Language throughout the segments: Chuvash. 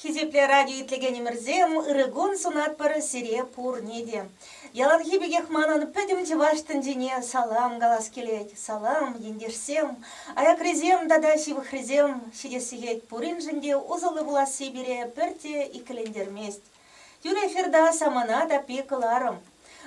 Хисеплӗ радио итлекенӗмӗрсем, ырӑ кун сунатпӑр сире пурне те. Яланхи пекех манӑн пӗтӗм чӑваш тӗнчине салам калас килет. Салам, ентешсем, аякрасем тата ҫывӑхрисем. Ҫитес сехет пуриншӗн те усӑллӑ пуласси пире пӗртте иккӗлентермест. Юрий эфирта самана таппи кӑларӑм.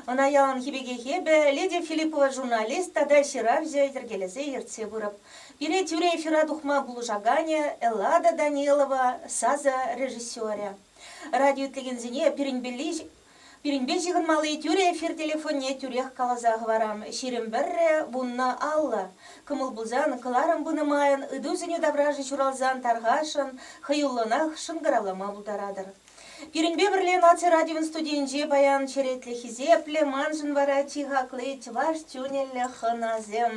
Ӑна яланхи пекех эпӗ Лидия Филиппова журналист тата ҫыравҫӑ йӗркелесе ертсе пырӑп. Пире тӳрӗ эфира тухма пулӑшаканӗ, Эллада Данилова сасӑ режиссерӗ. Радио итлекенсене пирӗнпе ҫыхӑнмалли тӳрӗ эфир телефонне тӳрех каласа хӑварам, ҫирӗм пӗрре вуннӑ аллӑ. Кӑмӑл пулсан, кӑларӑм пынӑ майӑн ыйту-сӗнӳ таврашӗ ҫуралсан тархасшӑн, хӑюллӑнах шӑнкӑравлама пултаратӑр. Пирӗнпе пӗрле наци радион студийӗнче паян черетлӗ хисеплӗ, маншӑн вара чи хакли чӑваш тӳнеллӗ хӑнасем.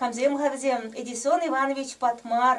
Камсем-ха вӗсем? Эдисон Иванович Патмар,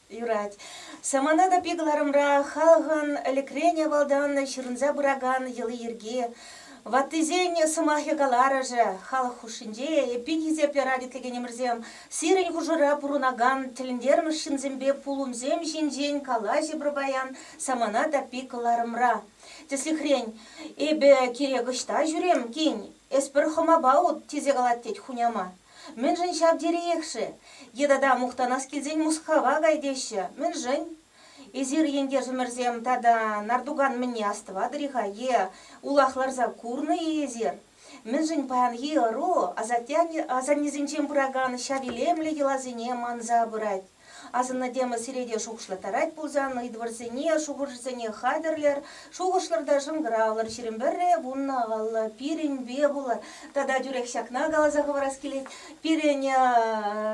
Юрать. Самана та пи кӑларӑмра халӑхӑн ӗлӗкрен авалтан ҫырӑнса пыракан йӑли-йӗрки, ваттисен сӑмахӗ-каларӑшӗ, халӑх хушшинче эппин хисеп ярать итлекенӗмӗрсем сирӗн хушӑра пурӑнакан тӗлӗнтермӗш ҫынсемпе пулӑмсем ҫинчен калаҫӗ пӗр паян Самана та пи кӑларӑмра. Тӗслӗхрен, Эпӗ кирек ӑҫта ҫӳрем, кин, эс пӗр хӑмапа ут, тесе калать тет хуняма. Мӗншӗн ҫав териех-ши? Е тата мухтанас килсен Мускава кай теҫҫӗ, мӗншӗн? Эсир, ентешӗмӗрсем, тата Нартукан мӗнне астӑватӑр-и-ха е улах ларса курнӑ-и эсир? Мӗншӗн паянхи ӑру асатте-асаннесенчен пыракан ҫав илемлӗ йӑласене манса пырать? Асӑннӑ тема сире те шухӑшлаттарать пулсан, ыйтӑвӑрсене, шухӑшӑрсене хатӗрлӗр, шухӑшлӑр та шӑнкӑравлӑр, ҫирӗм пӗрре, вуннӑ аллӑ, пирӗнпе пулӑр. Тата тӳрех ҫакна каласа хӑварас килет, пирӗн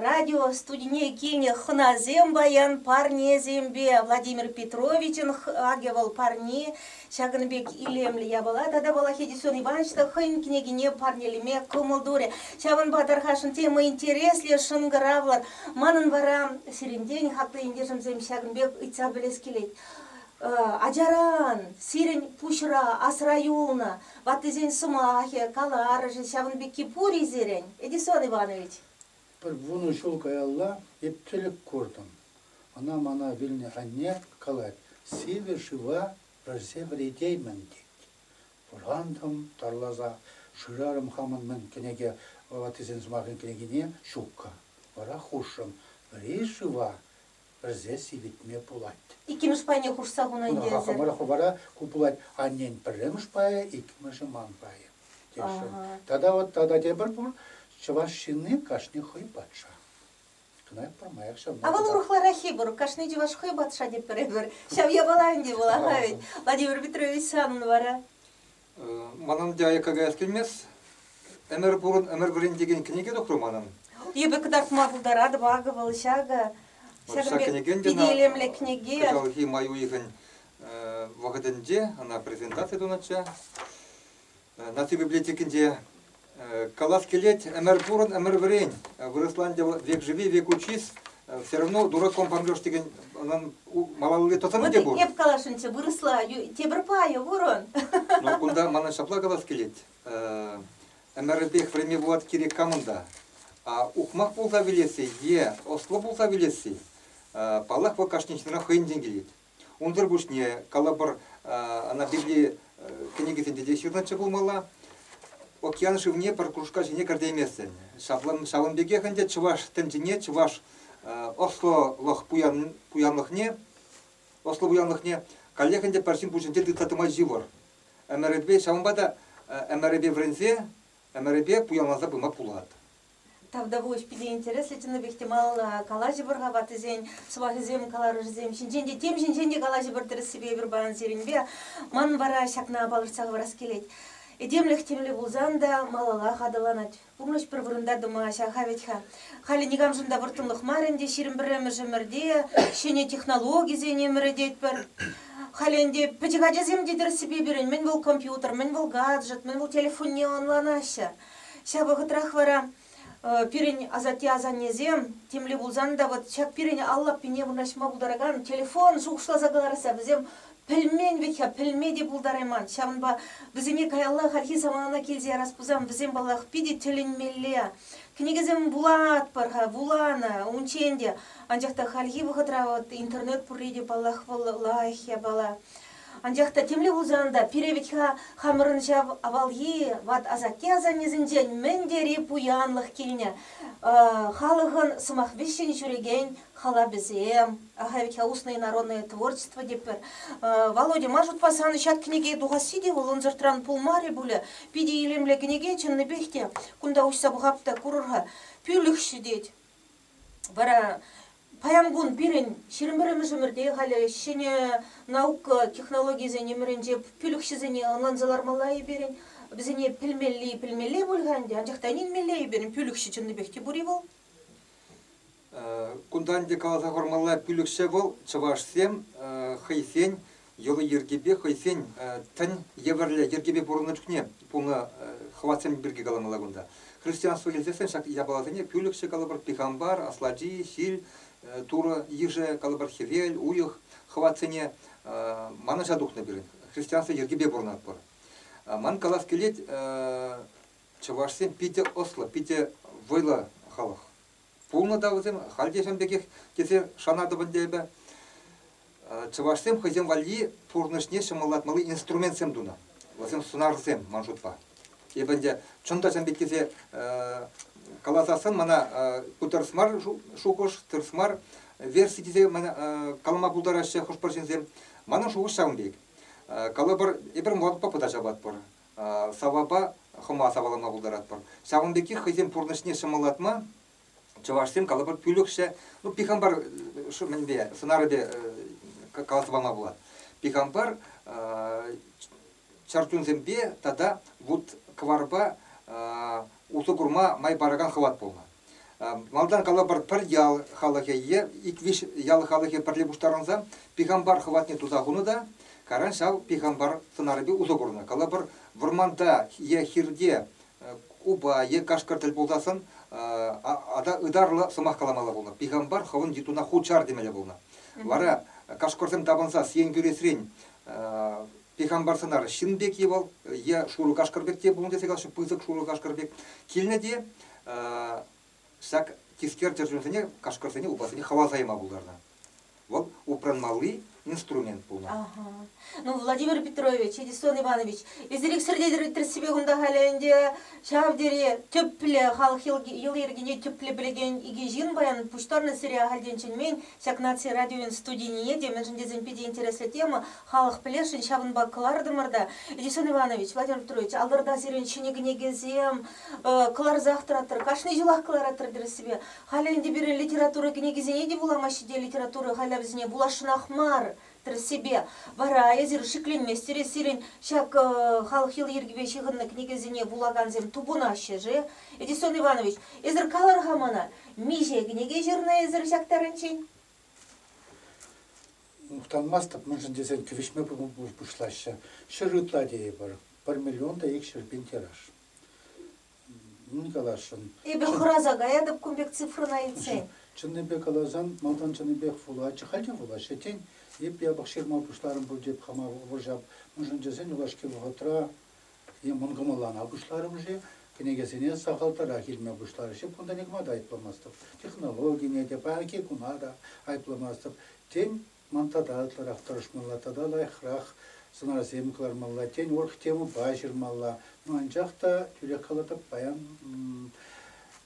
радиостудине килнӗ хӑнасем паян парнесемпе Владимир Петровичӑн Акӗ вӑл парне Ҫакӑн пек илемлӗ япала тата вӑл Хедисон Иванович та хӑйӗн кӗнекине парнелеме кӑмӑл турӗ. Ҫавӑнпа тархасшӑн тема интереслӗ, шӑнкӑравлӑ. Манӑн вара сирӗнтен, хаклӑ ентешӗмсем, ҫакӑн пек ыйтса пӗлес килет. Ачаран сирӗн пуҫра асра юлнӑ ваттисен сӑмахӗ, каларӑшӗ ҫавӑн пекки пур-и сирӗн, Эдисон Иванович? Пӗр вунӑ ҫул каялла эп тӗлӗк куртӑм. Ӑна мана вилнӗ анне калать, сивӗ шыва вӗрсе вӗретеймӗн, тет. Вӑрантӑм тарласа, шырарӑм хамӑн мӗн кӗнеке ватисен сӑмахӗн кӗнекине, ҫукка. Вара хушрӑм, вӗри шыва пӗрсе сивӗтме пулать. Иккӗмӗш пайне хушса хунӑ ӗнтӗ эсӗр. Хӑвӑра хӑвӑра ку пулать, аннен пӗрремӗш пайӗ, иккӗмӗшӗ ман пайӗ, тесшӗн. Тата вот тата тепӗр пур, чӑваш ҫынни кашни хӑй патша. Кӑнах пӗрмаях ҫавна. А вӑл урӑхлараххи пур, кашни чӑваш хӑй патша тетпӗр эпир. Ҫав япала ӗнтӗ вӑла-ха вӗт. Владимир Петрович санӑн вара? Манӑн те аякка каяс килмест. Ӗмӗр пурӑн, ӗмӗр пурин текен кӗнеке тухрӑ манӑн. Эпӗ кӑтартма пултаратӑп, акӑ вӑл ҫакӑ. Ҫакӑн пек питӗ илемлӗ кӗнеке. Кӑҫалхи май уйӑхӗн вӑхӑтӗнче ӑна презентаци тунӑччӗ. Наци библиотекинче Калас килет, ӗмӗр пурӑн, ӗмӗр вӗрен, вырӑсла ӗнтӗ вӑл век живи, век учись, все равно дураком по-англӑш текен унӑн малалли тӑсӑмӗ те пур. Эп каласшӑнччӗ, вырӑсла тепӗр пайӗ пурӑн. Ну, кунта мана ҫапла калас килет, ӗмӗрӗпех вӗренме пулать кирек камӑн та. Ухмах пулса вилесси е ӑслӑ пулса вилесси, паллах, вӑл кашни ҫынран хӑйӗнчен килет. Унсӑр пуҫне, калӑпӑр, ӑна Библи кӗнекисенче те ҫырнӑччӗ пулмалла. Океан шывне пӗр кружка ҫине кӗртейместӗн. Ҫавӑн пекех ӗнтӗ чӑваш тӗнчине, чӑваш ӑслӑлӑх пуянлӑхне, ӑслӑ пуянлӑхне каллех ӗнтӗ пӗр ҫын пуҫӗнче тытса тӑма йывӑр. Ӗмӗрӗпе, ҫавӑнпа та ӗмӗрӗпе вӗренсе, ӗмӗрӗпе пуянланса пыма пулать. тавтапуҫ питӗ интереслӗ чӑннипех те малалла калаҫӑпӑр-ха ваттисен сӑмахӗсем каларӑшӗсем ҫинчен те тем ҫинчен те калаҫӑпӑр тӗрӗссипе эпир паян сирӗнпе манӑн вара ҫакна палӑртса хӑварас килет этемлӗх темле пулсан та малаллах аталанать пурнӑҫ пӗр вырӑнта тӑма ҫаха вӗт-ха халӗ никамшӑн та вӑрттӑнлӑх мар ӗнтӗ ҫирӗм пӗрремӗш ӗмӗрте ҫӗнӗ технологисен ӗмӗрететпӗр халӗ ӗнтӗ пӗчӗк ачасем те тӗрӗссипе пирӗн мӗн вӑл компьютер мӗн вӑл гаджет мӗн вӑл телефонне ӑнланаҫҫӗ Ҫав вӑхӑтрах вара пирӗн асатте-асаннесем темле пулсан та вот ҫак пирӗн ал лаппине вырнаҫма пултаракан телефон шухӑшласа кӑларса вӗсем пӗлмен вӗт-ха, пӗлме те пултарайман. Ҫавӑнпа вӗсене каялла хальхи самана килсе ярас пулсан вӗсем, паллах, питӗ тӗлӗнмелле. Кӗнекесем вулатпӑр-ха, вуланӑ унччен те, анчах та хальхи вӑхӑтра вот интернет пурри те, паллах, вӑл лайӑх япала. Анчах та темле пулсан та пире вӗт-ха хамӑрӑн ҫав авалхи ват-асатте-асаннесенчен мӗн тери пуянлӑх килнӗ. Халӑхӑн сӑмах вӗҫҫӗн ҫӳрекен халапӗсем, ахаль вӗт-ха уснӑй народное творчество тетпӗр. Володя, ма шутпа сан ҫак кӗнеке тухасси те вӑл ӑнсӑртран пулмарӗ пулӗ? Питӗ илемлӗ кӗнеке чӑннипех те. Кунта уҫса пӑхап та курӑр-ха. Пӳлӗхҫӗ тет. Вара паян кун пирӗн ҫирӗм пӗрремӗш ӗмӗрте халӗ ҫӗнӗ наука технологийӗсен ӗмӗрӗнче пилӗкҫӗсене ӑнланса лармалла-и пирӗн? Вӗсене пӗлмелли пӗлмелле пуль-ха ӗнтӗ, анчах та ӗненмелле-и пирӗн пилӗкҫӗ чӑннипех те пур-и вӑл? Кунтан ӗнтӗ каласа хурмалла, пилӗкҫӗ вӑл чӑвашсем хӑйсен йӑли-йӗркипе хӑйсен тӗн евӗрлӗ йӗркепе пурӑннӑ чухне пулнӑ хӑватсем пирки каламалла кунта. Христианство илсессӗн ҫак япаласене пӳлӗхҫӗ калӑпӑр пихампар, аслати, ҫил, турӑ, йышӗ, калӑпӑр хӗвел, уйӑх, хӑватсене манӑҫа тухнӑ пирӗн. Христианство йӗркипе пурӑнатпӑр. Ман калас килет, чӑвашсем питӗ ӑслӑ, питӗ вӑйлӑ халӑх. Пулнӑ та вӗсем, халь те ҫавӑн пекех, тесе шанатӑп ӗнтӗ эпӗ. Чӑвашсем хӑйсем валли пурнӑҫне ҫӑмӑллатмалли инструментсем тунӑ. Вӗсем сунарсем, ман шутпа. Эпӗ ӗнтӗ чӑн та ҫавӑн пек тесе каласассӑн мана ку тӗрӗс мар шухӑш, тӗрӗс мар верси тесе мана калама пултараҫҫӗ хӑш-пӗр ҫынсем. Манӑн шухӑш ҫавӑн пек. Калӑпӑр, эпир моргпа пӑта ҫапатпӑр. саввапа хӑма сапалама пултаратпӑр. Ҫавӑн пекех хӑйсен пурнӑҫне ҫӑмӑллатма чӑвашсем калӑпӑр пӳлӗхҫӗ, ну, пихампар мӗнпе, сӑнарӗпе каласа пама пулать. Пихампар чӗрчунсемпе тата вут-кӑварпа усӑ курма май паракан хӑват пулнӑ. Малтан калӑпӑр, пӗр ял халӑхӗ е ик-виҫ ял халӑхӗ пӗрле пуҫтарӑнса пихампар хӑватне туса хунӑ та каран ҫав пихампар сӑнарӗпе усӑ курнӑ. Калӑпӑр, вӑрманта е хирте упа е кашкӑр тӗл пулсассӑн ытарлӑ сӑмах каламалла пулнӑ. Пихампар хӑвӑн йытуна хут чар темелле пулнӑ. Вара кашкӑрсем тапӑнса сиен кӳресрен пехамбарсӑнар ҫын пек е вӑл е шурӑ кашкӑр пек те пулнӑ тесе калаҫҫӗ пысӑк шурӑ кашкӑр пек килнӗ те ҫак тискер чӗрчунсене кашкӑрсене упасене хаваса яма пултарнӑ вӑл упранмалли инструмент пулнӑ. Ну, Владимир Петрович, Эдисон Иванович, эсирек сӗртетӗр ӳттӗрссипе кунта халӗ ӗнтӗ ҫав тери тӗплӗ, халӑх йӑли-йӗркине тӗплӗ пӗлекен икӗ ҫын паян пуҫтарнӑ сире ахальтен чӗнмен Ҫак наци радиовӗн студине те, мӗншӗн тесен питӗ интереслӗ тема, халӑх пӗлесшӗн, ҫавӑнпа кӑлартӑмӑр та. Эдисон Иванович, Владимир Петрович, алтӑрта сирӗн ҫӗнӗ кӗнекесем кӑларсах тӑраттӑр, кашни ҫулах кӑлараттӑр тӗрӗссипе. Халӗ ӗнтӗ пирӗн литература кӗнекисене те вуламаҫҫӗ те, литература хайлавӗсене вуласшӑнах мар. тӗрӗссипе вара эсир шикленместӗр сирӗн ҫак халӑх йӑли-йӗркипе ҫыхӑннӑ кӗнекесене вулакансем тупӑнаҫҫӗ-ши? Эдисон Иванович, эсир калӑр-ха мана, миҫе кӗнеке ҫырнӑ эсир ҫак тарӗнчен? Мухтанмастӑп, мӗншӗн тесен кӗвӗҫме пуҫлаҫҫӗ. Ҫӗр ытла тейӗпӗр, пӗр миллион та икҫӗр пин тираж. Мӗн каласшӑн? Эпӗ хӑраса каятӑп кун пек цифрӑна илтсен. Чӑннипе каласан, малтан чӑннипех вулатчӗ, халь те вулаҫҫӗ. Тен, эп япӑх ҫырма пуҫларӑм пуль теп хама вӑрҫап. Мӗншӗн тесен юлашки вӑхӑтра е мӑн кӑмӑллана пуҫларӑм-ши, кӗнекесене сахалтарах илме пуҫларӗҫ. Кунта никама та айӑпламастӑп. Технологине те, паянхи куна та айӑпламастӑп. Тен, Ман тата ытларах тӑрӑшмалла тата лайӑхрах сӑнарсем кӑлармалла, тен, оргтемӑпа ҫырмалла. Ну, анчах та тӳрех калатӑп, паян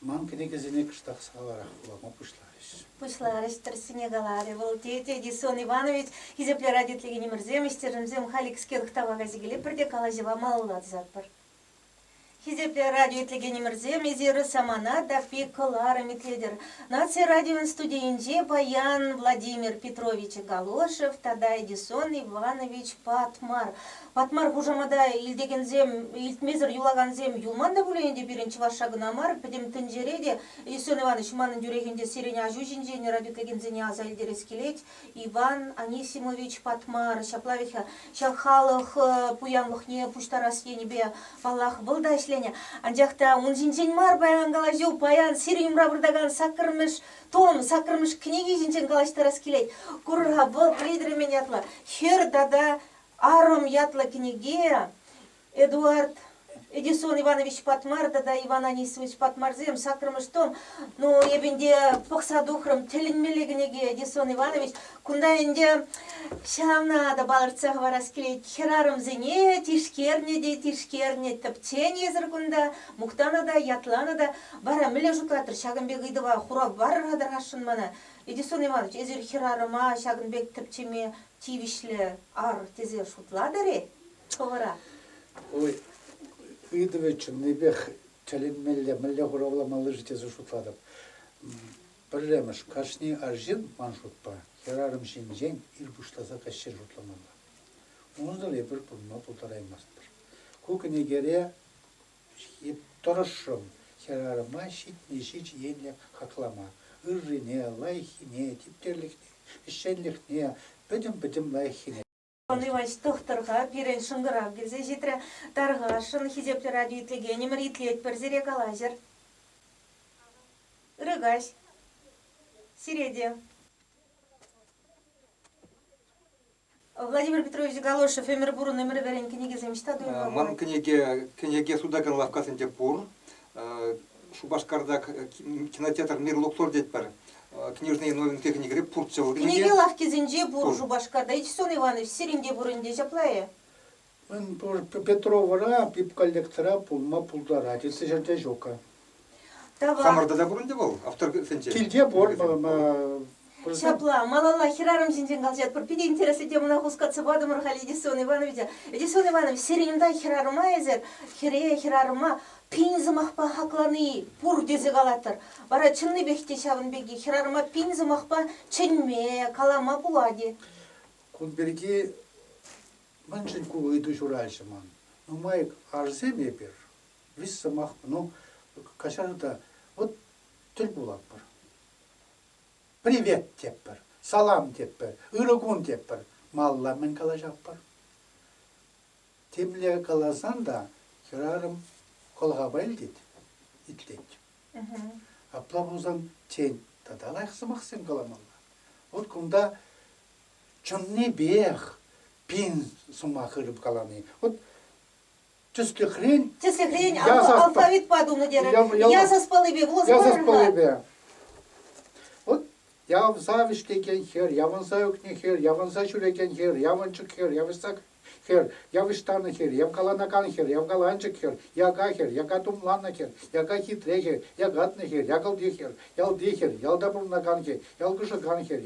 ман кӗнекесене кӑштах сахалрах вулама пуҫларӗҫ. Пуҫларӗҫ, тӗрӗссине каларӗ вӑл. Тете, Гисон Иванович, хисеплӗ радио телейлӗнемӗрсем, ӗҫтешӗмсем, халь икскер ӑхтава кайса килӗпӗр те калаҫӑва малалла тӑсатпӑр. Хисеплӗ радио итлекенӗмӗрсем, эсир самана таппи кӑларӑм итлетӗр. Наци радион студийӗнче паян Владимир Петрович Галошев тата Эдисон Иванович Патмар. Патмар хушамата илтекенсем, илтмесӗр юлакансем юлман та пулин те пирӗн чӑвашша кӑна мар, пӗтӗм тӗнчере те Эдисон Иванович манӑн тӳрехӗнче сирӗн аҫу ҫинчен радио итлекенсене аса илтерес килет. Иван Анисимович Патмар ҫапла вӗт-ха, ҫав халӑх пуянлӑхне пуҫтарас енӗпе, паллах, вӑл та ӗҫленӗ, анчах та ун ҫинчен мар паян калаҫу, паян сирӗн умра выртакан саккӑрмӗш том, саккӑрмӗш кӗнеке ҫинчен калаҫтарас килет. Кур-ха, вӑл Рейдермен ятлӑ хӗр тата арӑм ятлӑ кӗнеке Эдуард Эдисон Иванович Патмар тата Иван Анисимович Патмарсем саккӑрмӗш том. Ну, эпӗ ӗнтӗ пӑхса тухрӑм, тӗлӗнмелле кӗнеке Эдисон Иванович. Кунта ӗнтӗ ҫавна та палӑртса хӑварас килет. Хӗрарӑмсене тишкернӗ те тишкернӗ, тӗпченисӗр кунта, мухтанӑ та, ятланӑ та. Вара мӗнле шутлаттӑр ҫакӑн пек ыйтӑва хурав парӑр-ха тӑрасшӑн мана. Эдисон Иванович, эсир хӗрарӑма ҫакӑн пек тӗпчеме тивӗҫлӗ ар тесе шутлатӑр-и? Хӑвӑра? Ой, ыйтӑвӗ чӑннипех тӗлӗнмелле, мӗнле хуравламалли-ши тесе шутлатӑп. Пӗрремӗш, кашни арҫын, ман шутпа, хӗрарӑм ҫинчен ир пуҫласа каҫчен шутламалла. Унсӑр эпир пурӑнма пултараймастпӑр. Ку кӗнекере тӑрӑшрӑм хӗрарӑма ҫитни ҫич енлӗ хаклама. Ыррине, лайӑххине, типтерлӗхне, ӗҫченлӗхне, пӗтӗм-пӗтӗм лайӑххине. Иван Иванович тӑхтӑрха пирӗн шӑнкӑрав килсе ҫитрӗ. Тархасшӑн, хисеплӗ радио итлекенӗмӗр, итлетпӗр, сире калаҫӑр. Ырӑ каҫ. Сире те. Владимир Петрович Галошев ӗмӗр пурӑн ӗмӗр вӗрен кӗнекесем ҫӑҫта туйма Ман пулать. кӗнеке кӗнеке сутакан лавккасенче пур. Э, Шупашкарта кинотеатр Мирлуктор тетпӗр. Книжные новинки техникӑри пурччӗ вӑл. Книжки лавккисенче пур Шупашкарта. Ичтсон Иванович сирӗн те пур ӗнтӗ ҫапла-и? Мӗн пур, Петровӑра, пипколлектора пулма пултарать. Ытти ҫӗрте ҫук-ха. Хамӑрта та пур ӗнтӗ вӑл автор сӗнче? Килте пур. Ҫапла, малалла хӗрарӑм ҫинчен калаҫатпӑр. Питӗ интереслӗ темӑна хускатса патӑмӑр халь Эдисон Ивановича. Эдисон Иванович, сирӗн унта хӗрарӑма эсир, хӗре, хӗрарӑма пин сӑмахпа хаклани пур тесе калатӑр. Вара чӑннипех те ҫавӑн пирки хӗрарӑма пин сӑмахпа чӗнме, калама пулать-и? Кун пирки мӗншӗн ку ыйту ҫураҫҫӗ ман? Нумай арҫын эпир, виҫ сӑмах. Ну, каҫару та, вӑт тӗл пулатпӑр. Привет тетпӗр, салам тетпӗр, ырӑ кун тетпӗр. Малла мӗн калаҫатпӑр? Темле каласан та хӗрарӑм кӑлхапа илтет, итлет. Апла пулсан, тен, тата лайӑх сӑмахсем каламалла. Вот кунта чӑннипех пин сӑмах ырӑп калани. Вот Тӗслӗхрен? Тӗслӗхрен, алфавитпа тунӑ терӗр. Ясаспаллипе вуласа Ясаспаллипе. Вот явсавӗҫ текен хӗр, явӑнса ӳкнӗ хӗр, явӑнса ҫӳрекен хӗр, явӑнчӑк хӗр, явӑҫсак хӗр, явӑҫтарнӑ хӗр, явкаланакан хӗр, явкаланчӑк хӗр, яка хӗр, яка тумланнӑ хӗр, яка хитре хӗр, якатнӑ хӗр, якӑлти хӗр, ялти хӗр, ялта пурӑнакан хӗр, ялкӑшакан хӗр,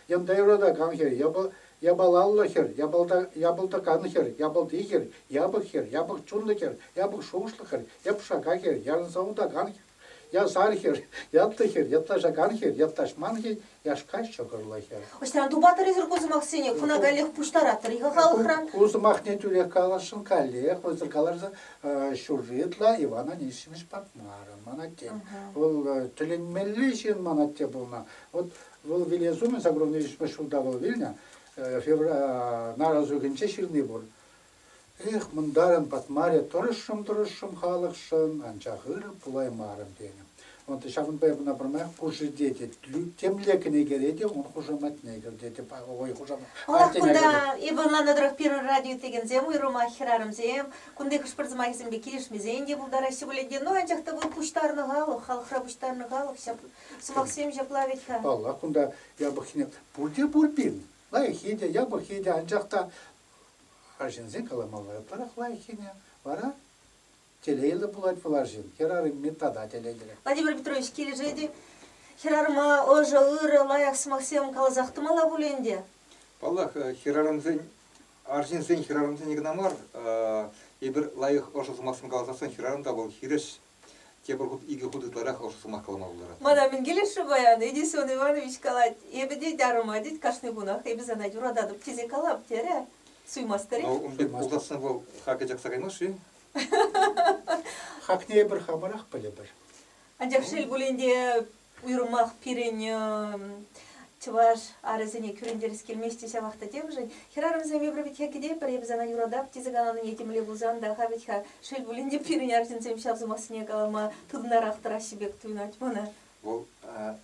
ялта юратакан хӗр, япа Япалаллӑ хӗр, япалта, япӑлтакан хӗр, япӑлти хӗр, япӑх хӗр, япӑх чунлӑ хӗр, япӑх шухӑшлӑ хӗр, япшака хӗр, ярӑнса утакан хӗр, ясар хӗр, ятлӑ хӗр, ятлаҫакан хӗр, ятлаҫман хӗр, яшка ҫӑкӑрлӑ хӗр. Ӑҫтан тупатӑр-эсӗр ку сӑмахсене? Хӑна каллех пуҫтаратӑр-и-ха халӑхран? Ку сӑмахне тӳрех каласшӑн каллех вӑйсӑр каларса ҫурри ытла Иван Анисимович Патмаров ман атте. Вӑл тӗлӗнмелли ҫын ман атте пулнӑ. Вӑт Вӑл вилес умӗн Загробный виҫмӗш ҫулта вӑл вилнӗ, нар азухӗнче ҫырни пур. Эх, мӑнтарӑн патмарӗ, тӑрӑшрӑм-тӑрӑшрӑм халӑхшӑн, анчах ыр пулаймарӑм тенӗ. Ҫавӑнпа эпӗ ӑна пӗрмаях пушшӗте темле кӗнекере те ун хушаматне кӗртетӗп, вӑй хушамат. Ӑнах кунта ывӑнланнӑ тӑрӑх пирӗн радио итлекенсем, уйрӑмах хӗрарӑмсем, кунти хӑш-пӗр сӑмахӗсемпе килӗшмесен те пултараҫҫӗ пулин те, ну анчах та вӑл пуҫтарнӑ халӑх, халӑхра пуҫтарнӑ халӑх ҫав Сӑмахсем ҫапла вӗт-ха. Паллах, кунта япӑххине пурте пур пин. Лайӑххи те, япӑххи те, анчах та арҫынсен каламалла ытларах лайӑххине вара телейлӗ пулать вӑл арҫын. Хӗрарӑмми тата телейлӗ. Владимир Петрович килӗшет-и? Хӗрарӑма ӑшӑ, ырӑ, лайӑх сӑмахсем каласах тӑмалла пулӗ ӗнтӗ? Паллах, хӗрарӑмсен, арҫынсен хӗрарӑмсенни кӑна мар. Эпир лайӑх ӑшӑ сӑмахсем каласассӑн хӗрарӑм та вӑл хирӗҫ Тепӗр хут икӗ хут ытларах ӑшӑ сӑмах калама пултарать. Мана мӗн килӗшрӗ паян, Эдисон Иванович калать, эпӗ тет, арӑма тет, кашни кунах эпӗ сана юрататӑп тесе калап, терӗ. Суймастӑр-и? Вӑл ун пек пулсассӑн вӑл хака чакса каймасть-ши? Хакне эпир хамӑрах пӗлӗпӗр. Анчах шел пулин те, уйрӑмах пирӗн чӑваш арӗсене кӳрентерес килмест те ҫавах та темшӗн. Хӗрарӑмсем эпир вӗт пӗр эп сана юратап тесе каланине темле пулсан та-ха вӗт-ха шел пулин те пирӗн арҫынсем ҫав сӑмахсене калама тытӑнарах тӑраҫҫӗ пек туйӑнать мана. Вӑл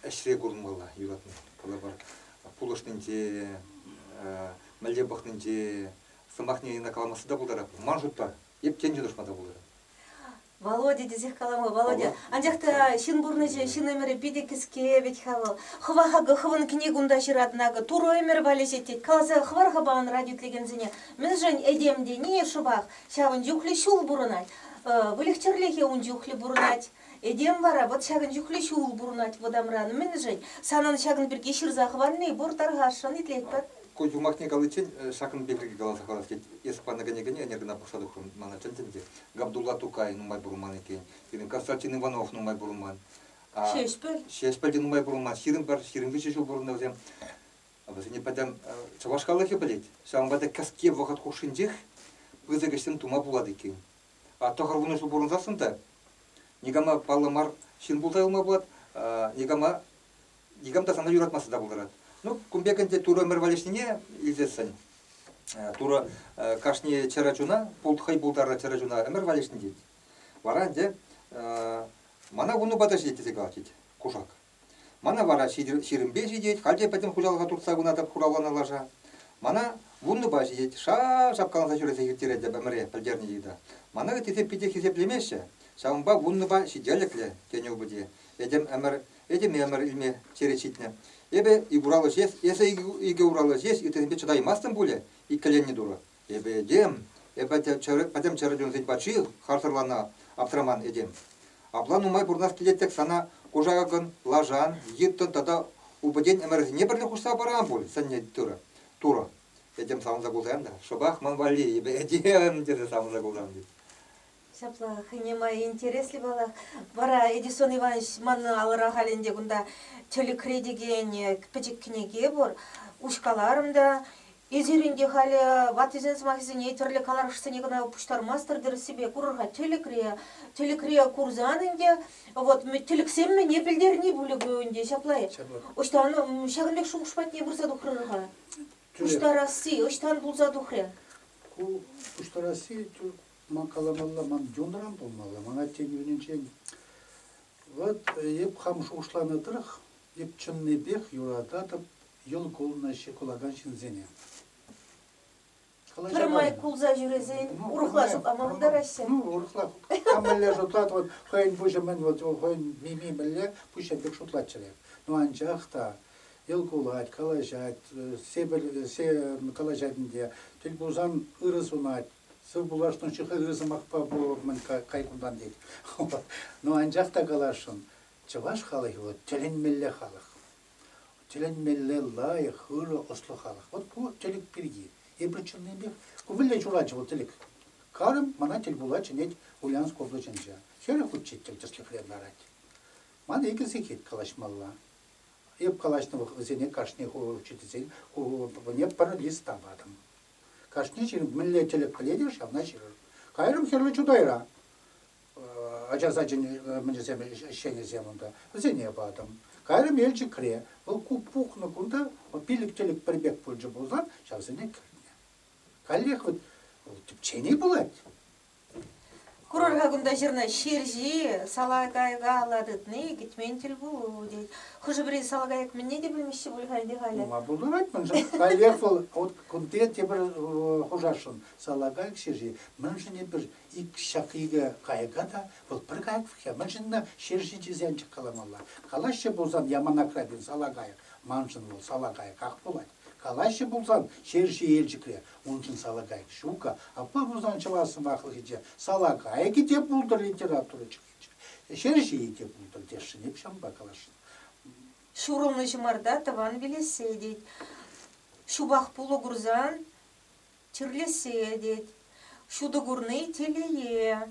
ӗҫре курӑнмалла юратни калӑпӑр. Пулӑшнинче, мӗнле пӑхнинче сӑмахне каламасса та пултарать. Ман шутпа, эп тен те тӑшма та пултарать. Володя тесех калама Володя. Анчах та ҫын пурнӑҫӗ, ҫын ӗмӗрӗ питӗ кӗске вӗт-ха вӑл. Хӑвах акӑ хӑвӑн кӗнек унта ҫыратӑн акӑ, Турӑ ӗмӗр валеҫет тет. Каласа хӑвар-ха пан радио итлекенсене, мӗншӗн этем тени шӑпах ҫавӑн чухлӗ ҫул пурӑнать. Выльӑх-чӗрлӗхе ун чухлӗ пурӑнать. Этем вара вӑт ҫакӑн чухлӗ ҫул пурӑнать вӑтамран. Мӗншӗн? Санӑн ҫакӑн пирки ҫырса хӑварни пур, тархасшӑн, итлетпӗр. Ку юмахне каличчен ҫакӑн пирки каласа хӑварас тет. Эс панӑ кӗнекене ӗнер кӑна пӑхса тухрӑм, мана чӗнтӗн те. Габдулла Тукай нумай пурӑнман иккен, пирӗн Константин Иванов нумай пурӑнман. Ҫеҫпӗл. Ҫеҫпӗл те нумай пурӑнман. Ҫирӗм пӗр, ҫирӗм виҫӗ ҫул пурӑннӑ вӗсем. Вӗсене пӗтӗм чӑваш халӑхӗ пӗлет. Ҫавӑнпа та кӗске вӑхӑт хушшинчех пысӑк ӗҫсем тума пулать иккен. А тӑхӑр вунӑ ҫул пурӑнсассӑн та никама паллӑ мар ҫын пулса юлма пулать, никама никам та сана юратмасса та пултарать. Ну, кун пек ӗнтӗ Турӑ ӗмӗр валеҫнине илтесшӗн. Э, Турӑ э, кашни чӗрӗ чуна, хӑй пултарнӑ чӗрӗ чуна ӗмӗр валеҫнӗ тет. Вара ӗнтӗ э, мана вуннупа та ҫитет тесе калать тет кушак. Мана вара ҫирӗмпе ҫитет, халь те пӗтӗм хуҫалӑха туртса пынатӑп хуравланӑ лаша. Мана вуннупа ҫитет, ша шапкаланса ҫӳресе ирттеретӗп ӗмӗре, пӗлтернӗ йыта. Мана ыттисем питех хисеплемеҫҫӗ, ҫавӑнпа вуннупа ҫителӗклӗ, тенӗ упӑте. Этем ӗмӗр этем ӗмӗр илме черет ҫитнӗ. Эпӗ ураллӑ ҫеҫ, эсӗ икӗ ураллӑ ҫеҫ, ыттисемпе чӑтаймастӑн пулӗ? иккӗленнӗ Турӑ. Эпӗ этем, эпӗ пӗтӗм чӗр чунсен патши, харсӑрланӑ аптраман этем. Апла нумай пурӑнас килет-тӗк сана кушакӑн, лашан, йыттӑн тата упӑтен ӗмӗрсене пӗрле хушса парам пуль, сӗннӗ Турӑ. Этем савӑнса кулсан та, шӑпах ман валли эпӗ этем тесе савӑнса кулсам тет. Ҫапла хӑйне май интереслӗ паллах. Вара Эдисон Иванович ман алӑра халь ӗнтӗ кунта тӗлӗкре текен э, пӗчӗк кӗнеке пур. Уҫкаларӑм та. Эсир ӗнтӗ халӗ ваттисен сӑмахӗсене тӗрлӗ каларӑшсене кӑна пуҫтармастӑр тӗрӗссипе курӑр-ха тӗлӗкре. Тӗлӗкре курсан ӗнтӗ вот тӗлӗксем мӗне пӗлтерни пулӗ ку ӗнтӗ ҫапла-и? Ӑҫтан ҫакӑн пек шухӑш патне пырса тухрӑр-ха? Пуҫтарасси ӑҫтан пулса тухрӗ? Ку пуҫтарасси Ман каламалла, ман юнран пулмалла, ман аттен юнӗнчен. Вӑт, эп хам шухӑшланӑ тӑрӑх, эп чӑннипех юрататӑп йӑл кулнаҫҫӗ кулакан ҫынсене. Калаҫа Пӗрмай кулса ҫӳресен ну, урӑхла шутлама пултараҫҫӗ. Ну, урӑхла. Кам мӗнле шутлать, вот хӑйӗн пуҫӗ мӗн, вот хӑйӗн мими мӗнле пуҫӗ пек шутлаччӑр эп. Ну, анчах та йӑл кулать, калаҫать, сепӗр, се калаҫать ӗнтӗ, тӗл пулсан ырӑ сунать, Сывпуллашнӑ чухӑнри сӑмахпа пулӑмӑн кай кунтан тет. Ну анчах та каласшӑн, чӑваш халӑхӗ вӑл тӗлӗнмелле халӑх. Тӗлӗнмелле лайӑх, ырӑ, ӑслӑ халӑх. Вот ку тӗлӗк пирки. Эпир чӑннипех, ку вӗлле ҫуратчӗ вӑл тӗлӗк. Карӑм мана тӗл пула чӗнет Ульянск облаҫӗнче. Хӗрӗ хутче тӗл тӗслӗхрен ларать. Ман икӗ сехет калаҫмалла. Эп калаҫнӑ вӑхӑтсене кашни хур учительсен хурӑвне пӗр лист та патӑм. Кашни ҫын мӗнле тӗлӗк пӗлет ҫавна ҫырӑр. Кайрӑм Хӗрлӗ Чутайра ача сачӗн мӗнӗсем, ӗҫченӗсем унта, вӗсене патӑм. Кайрӑм Елчӗкре, вӑл пухнӑ кунта пилӗк-тӗлӗк пӗр пек пулчӗ пулсан, ҫавсене кӗртнӗ. Каллех вот тӗпчени пулать. Курӑр-ха кунта ҫырнӑ ҫерҫи салакайкалла тытни кӗтмен тӗл пулу тет. Хӑшӗ-пӗри салакайӑк мӗнне те пӗлмеҫҫӗ пуль халь те халӗ. Нумай пултӑр вӗт мӗншӗн? Каллех вӑл вот кунти тепӗр хушасшӑн салакайӑк ҫерҫи. Мӗншӗн эпир ик ҫак икӗ кайӑка та вӑл пӗр кайӑк вӗҫе мӗншӗн ӑна ҫерҫи тесен каламалла. Калаҫҫӗ пулсан Яманакра пин салакайӑк. Маншӑн вӑл салакайӑках пулать. Калаҫҫӗ пулсан, ҫерҫи Елчӗкре, уншӑн Салакайӑк ҫукӑ, апла пулсан чӑваш сӑмахлӑхӗ те Салакайӑкӗ те пултӑр литература чӗнетчӗ, ҫерҫийӗ те пултӑр тесшӗн эп ҫавӑнпа калаҫнӑ. Ҫурӑлнӑ ҫӑмарта тӑван вилессе тет, ҫупах пулӑ курсан чирлессе тет, ҫутӑ курни телее,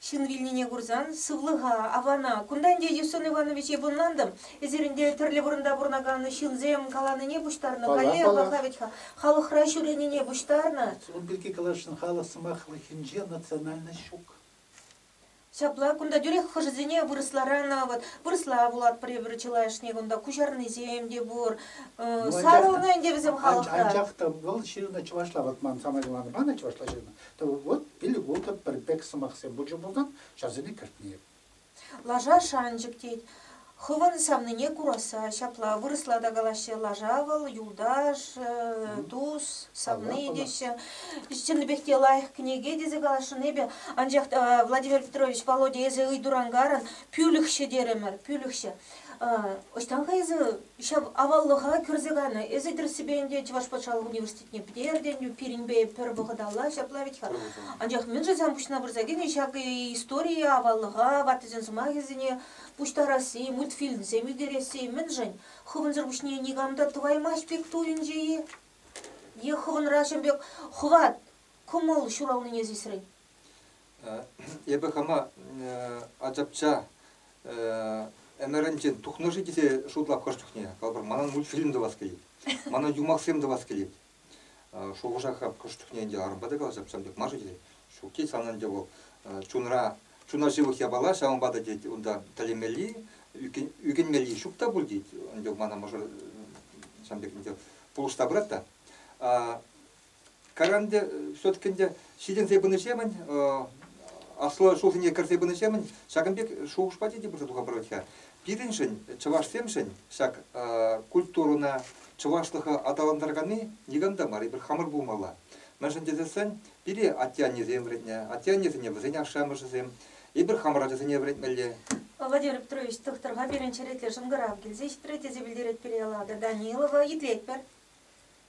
Ҫын вилнине курсан, сывлӑха авлана. Кунта ӗнтӗ Юсуф Иванович йӑпӑнлантӑм. Эсир ӗнтӗ тӗрлӗ вырӑнта пурӑнакан ҫынсем каланине пуҫтарнӑ. Каллех-аллах вӗт-ха, халӑхра ҫӳренине пуҫтарнӑ. Ун пирки каласшӑн, халӑх сӑмахлӑхӗнче национальность ҫук. Ҫапла, кунта тӳрех хӑшӗсене вырӑсларан вӑт, вырӑсла вулатпӑр эпир чылайӑшне кунта, куҫарнисем те пур. Сарӑлнӑ ӗнтӗ вӗсем халӑхра. Анчах та вӑл ҫырнӑ чӑвашла, вӑт ман самаяланӑ панӑ чӑвашла ҫырнӑ, Тӑвӑт, пилвутӑ, пӗр пек сӑмахсем пулчӗ пулсан, ҫавсене кӗртнӗ эп. Лаша шанчӑк тет. Хӑвӑн савнине курасса ҫапла вырӑсла та калаҫҫӗ, лаша вӑл, юлташ, тус, савни теҫҫӗ. Чӑннипех те лайӑх кӗнеке тесе каласшӑн эпӗ. Анчах та, Владимир Петрович, Володя, эсӗ ыйтуран-карӑн пӳлӗхҫӗ терӗмӗр, пӳлӗхҫӗ. Ӑҫтан-ха эсӗ ҫав аваллӑха кӳрсе кайнӑ? Эсӗ тӗрӗссипе ӗнтӗ Чӑваш патшалӑх университечӗ Эртеню пирӗнпе пӗр вӑхӑталла ҫапла вӗт-ха. Анчах мӗншӗн сан пуҫна пырса кӗнӗ ҫак историе аваллӑха, ваттисен сӑмахӗсене пуҫтарасси, мультфильмсем ӳкересси? Мӗншӗн? Хӑвӑнсӑр пуҫне никам та тӑваймасть пек туйӑнчӗ-и? Е хӑвӑнра ҫын пек хӑват, кӑмӑл ҫуралнине сисрӗн? Эпӗ хама ачапча ӗмӗрӗнчен тухнӑ-ши тесе шутлап хӑш чухне. Калӑпӑр, манӑн мультфильм тӑвас килет, манӑн юмахсем тӑвас килет. Шухӑша хап хӑш чухне ӗнтӗ арӑмпа та калаҫса ачапчам тек мар-ши тет. Ҫук тет, сан ӗнтӗ вӑл чунра чуна ҫывӑх япала, ҫавӑнпа та тет унта тӗлӗнмелли, ӳкӗнмелли ҫук та пуль тет. Ӗнтӗ мана мӑшӑр ҫам пек ӗнтӗ пулӑшса пырать та. Карам те все-таки ӗнтӗ ҫитӗнсе пынӑҫемӗн, аслӑ ҫулсене кӗрсе пынӑҫемӗн ҫакӑн пек шухӑшпа те пырса туха пырать-ха. Пирӗншӗн, чӑвашсемшӗн, ҫак культурӑна, чӑвашлӑха аталантараканни никам та мар, эпир хамӑр пулмалла. Мӗншӗн тесессӗн пире атте-аннесем вӗрентнӗ, атте-аннесене вӗсен ашшӗ-амӑшӗсем, эпир хамӑр ачасене вӗрентмелле. Владимир Петрович, тухтӑрпа пирӗн черетлӗ шӑнкӑрав килсе ҫитрӗ, тесе пӗлтерет пире Эллада Данилова. Итлетпӗр.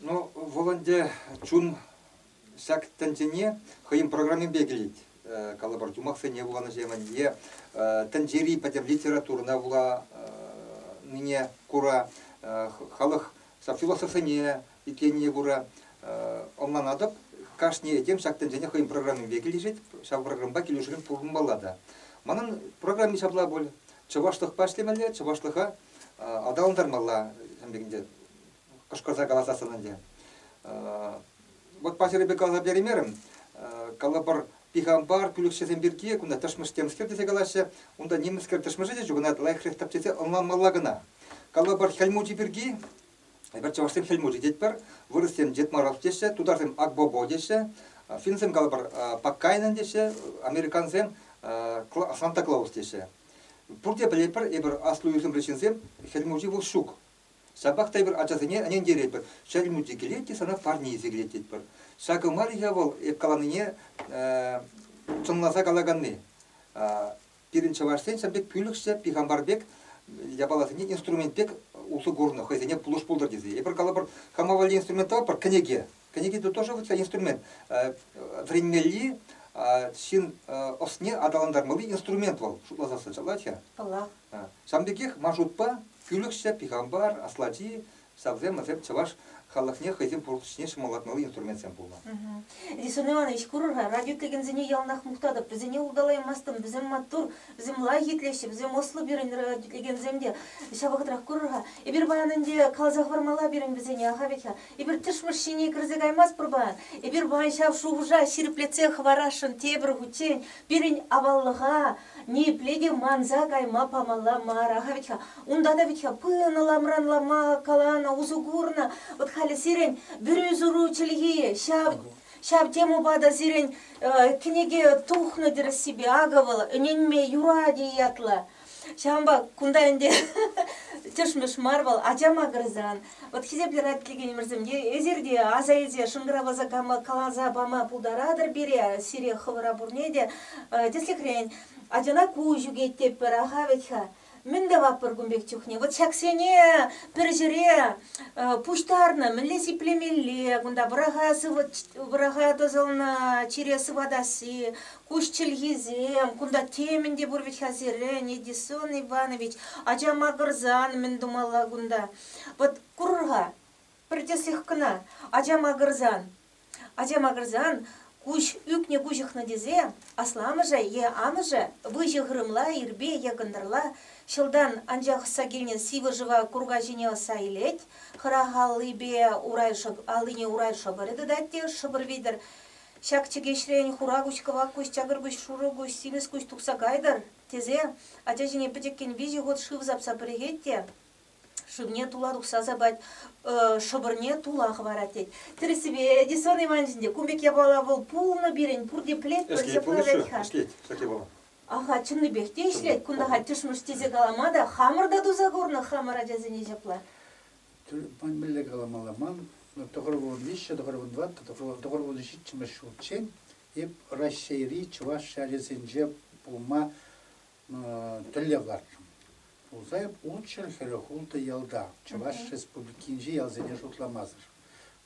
Ну, вӑл ӗнтӗ чун ҫак тӗнчене хӑйӗн программипе килет. Калӑпӑр, юмахсене вуланӑҫемӗн е тӗнчери пӗтӗм литературӑна вуланине кура халӑх ҫав философсене итленине кура ӑнланатӑп. Кашни этем ҫак тӗнчене хӑйӗн программипе килӗшет, ҫав программӑпа килӗшӳлӗн пурӑнмалла та. Манӑн программи ҫапла пуль. Чӑвашлӑхпа ӗҫлемелле, чӑвашлӑха аталантармалла. Ҫавӑн пекинче кӑшкӑрса каласассӑн ӗнтӗ. Вот паҫӑрипе каласа переймерӗм. Калӑпӑр, пихампар пӳлӗхҫӗсем пирки кунта тӑшмӑш темскер тесе калаҫҫӗ. Унта нимӗнскер тӑшмӑшӗ те чухӑнать, лайӑхрех тап тесе ӑнланмалла кӑна. Калӑпӑр, хӗл мучи пирки, эпир чӑвашсем хӗл мучи тетпӗр, вырӑссем Дедмаров теҫҫӗ, тутарсем Акбобо теҫҫӗ, финнсем, калӑпӑр, Паккайнен теҫҫӗ, американсем Санта-Клаус теҫҫӗ. Пурте пӗлетпӗр, эпир аслӑ ӳсӗмри ҫынсем, хӗл мучи вӑл ҫук. Ҫапах та эпир ачасене ӗнентеретпӗр, чӗрӗл мучи килет те сана парне илсе килет тетпӗр. Ҫакӑ мар-и-ха вӑл эп каланине чӑнласа калаканни? Пирӗн чӑвашсен ҫав пек пӳлӗхҫӗ пихампар пек япаласене инструмент пек усӑ курнӑ, хӑйсене пулӑш пултӑр тесе. Эпир калӑпӑр, хама валли инструмент тӑватпӑр, кӗнеке. Кӗнеке это тоже вот инструмент. Вӗренмелли ҫын ӑсне аталантармалли инструмент вӑл, шутласа сӑнчалать я. Паллах. Ҫавӑн пекех Машутпа Кӳлӗхҫӗ, Пихампар, Аслати, ҫавсем, вӗсем чӑваш халӑхне хӑйсен пурнӑҫне ҫӑмӑллатмалли инструментсем пулнӑ. Лисон Иванович, курӑр-ха, радио итлекенсене яланах мухтатӑп, вӗсене улталаймастӑн, вӗсем маттур, вӗсем лайӑх итлеҫҫӗ, вӗсем ӑслӑ пирӗн радио итлекенсем те. Ҫав вӑхӑтрах курӑр-ха, эпир паян ӗнтӗ каласа хӑвармалла пирӗн вӗсене, аха вӗт-ха, Эпир тӗшмӗш ҫине кӗрсе каймастпӑр-па? Эпир паян ҫав шухӑша ҫирӗплетсе хӑварасшӑн тепӗр хутчен пирӗн аваллӑха ниепле те манса кайма памалла мар-ха вӗт-ха. Унта та вӗт-ха пынӑ ламран-лама каланӑ, усӑ курнӑ. Вӑт халӗ сирӗн вӗрӳ-суру чӗлхи ҫав ҫав темӑпа та сирӗн кӗнеке тухнӑ тӗрӗссипе. Акӑ вӑл ӗненме юрать-и ятлӑ. Ҫавӑнпа кунта ӗнтӗ тӗшмӗш мар вӑл ача макӑрсан. Вот хисеплӗ радкилекенӗмӗрсем, эсир те аса илсе шӑнкӑравласа каласа пама пултаратӑр пире, сире хӑвӑра пурне те. Тӗслӗхрен, ачана куҫ ӳкет тетпӗр-аха вӗт-ха. Мӗн тӑватпӑр кун пек чухне? Вот ҫаксене пӗр ҫӗре пуҫтарнӑ мӗнле сиплемелле кунта? Вӑраха тӑсӑлнӑ чире сыватасси, Куҫ чӗлхисем, кунта темӗн те пур вӗт-ха сирӗн, Эдисон Иванович, ача макӑрсан мӗн тумалла кунта? Вӑт, курӑр-ха, пӗр тӗслӗх кӑна, ача макӑрсан. Ача макӑрсан куҫ ӳкнӗ куҫӑхнӑ тесе асламӑшӗ е амӑшӗ выҫӑ хырӑмла ирпе е кӑнтӑрла ҫӑлтан анчах ӑсса килнӗ сивӗ шыва курка ҫине ӑсса илет, хӑрах аллипе урай шӑк аллине урай шӑпӑрӗ тытать те шӑпӑр витӗр ҫак чӗкеҫрен хура куҫ, кӑвак куҫ, чакӑр куҫ, шурӑ куҫ, симӗс куҫ тухса кайтӑр, тесе ача ҫине пӗчӗккӗн виҫӗ хут шыв сапса пӗрӗхет те шывне тула тухса сапать, шӑпӑрне тула хӑварать тет. Тӗрӗссипе, Эдисон Иванович ӗнтӗ кун пек япала вӑл пулнӑ пирӗн, пурте пӗлет, пӗлсе пурӑнать-ха. Ӗҫлет ҫак япала. Аха, чӑннипех те ӗҫлет. Кунта-ха тӗшмӗш тесе калама та, хамӑр та туса курнӑ хамӑр ачасене ҫапла. мӗн мӗнле каламалла ман, тӑхӑр вун виҫҫӗ, тӑхӑр вун тӑваттӑ, тӑхӑр вун ҫиччӗмӗш ҫулччен эп Раҫҫейри чӑваш ачасенче пулма тӗллев лартрӑм. Пулса эп ултҫӗр хӗрӗ хултӑ ялта, Чӑваш Республикинчи ялсене шутламасӑр.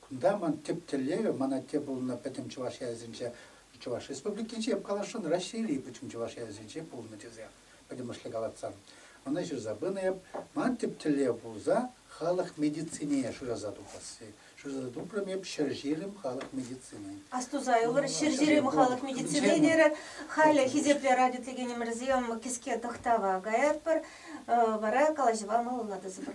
Кунта ман тӗп тӗллевӗ, ман атте пулнӑ пӗтӗм чӑваш ялӗсенче, Чӑваш Республикинче, эп каласшӑн, Раҫҫейри пӗтӗм чӑваш ялӗсенче пулнӑ тесе. пӗтӗмӗшле калатсан. Ӑна ҫырса пынӑ эп. Ман тӗп тӗллев пулса халӑх медицинине шыраса тупасси. Шыраса тупрӑм эп ҫӗрҫирӗм халӑх медицинин. Астусайӑлӑр ҫӗрҫирӗм халӑх медицинине терӗ. Халӗ Хисеплӗ радиотеленимӗрсем кӗске тӑхтава каятпӑр. Вара калаҫӑва малалла тӑсӑпӑр.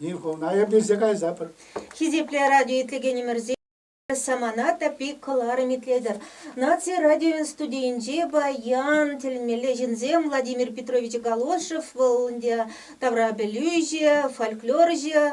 Инфовна эпӗ кайсапӑр. Хисеплӗ радио итлекенӗмӗрсем, самана та пит кӑларӑм итлетӗр. Наци радиовӗн студийӗнче паян тӗлмеле ҫынсем Владимир Петрович Галошев вӑл ӗнтӗ тавра пӗлӳҫӗ, фольклорҫӑ,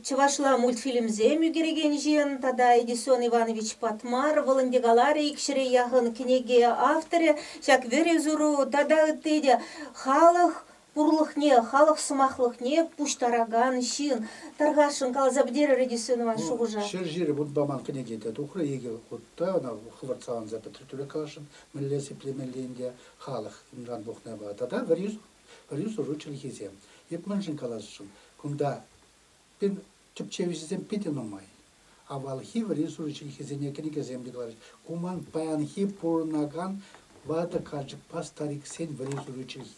чӑвашла мультфильмсем ӳкерекен ҫын тата Эдисон Иванович Патмар вӑл ӗнтӗ каларӗ ик ҫӗре яхӑн кӗнеке авторӗ. Ҫак вӗрӳ-суру тата ытти те халӑх пурлӑхне, халӑх сӑмахлӑхне пуҫтаракан ҫын, тархасшӑн каласа пӗтерӗ режиссер нумай шухӑша. Ҫӗр ҫире вутпа ман кӗнеке те тухрӗ икӗ хут та, ӑна хӑвӑрт-саланса пӗтрӗ тӳрех каласшӑн. Мӗнле сиплемелли ӗнтӗ халӑх унран пухнӑ вӑл. Тата вӗрӳ, вӗрӳ-суру чӗлхисем. Эп мӗншӗн каласшӑн, кунта пин Тӗпчевҫӗсем питӗ нумай. Авалхи вӗри суши чӗлхисене кӗнекесем йыхларӗҫ. Ку ман паянхи пурӑнакан ватӑ карчӑкпа стариксен вӗри суши чӗлхи.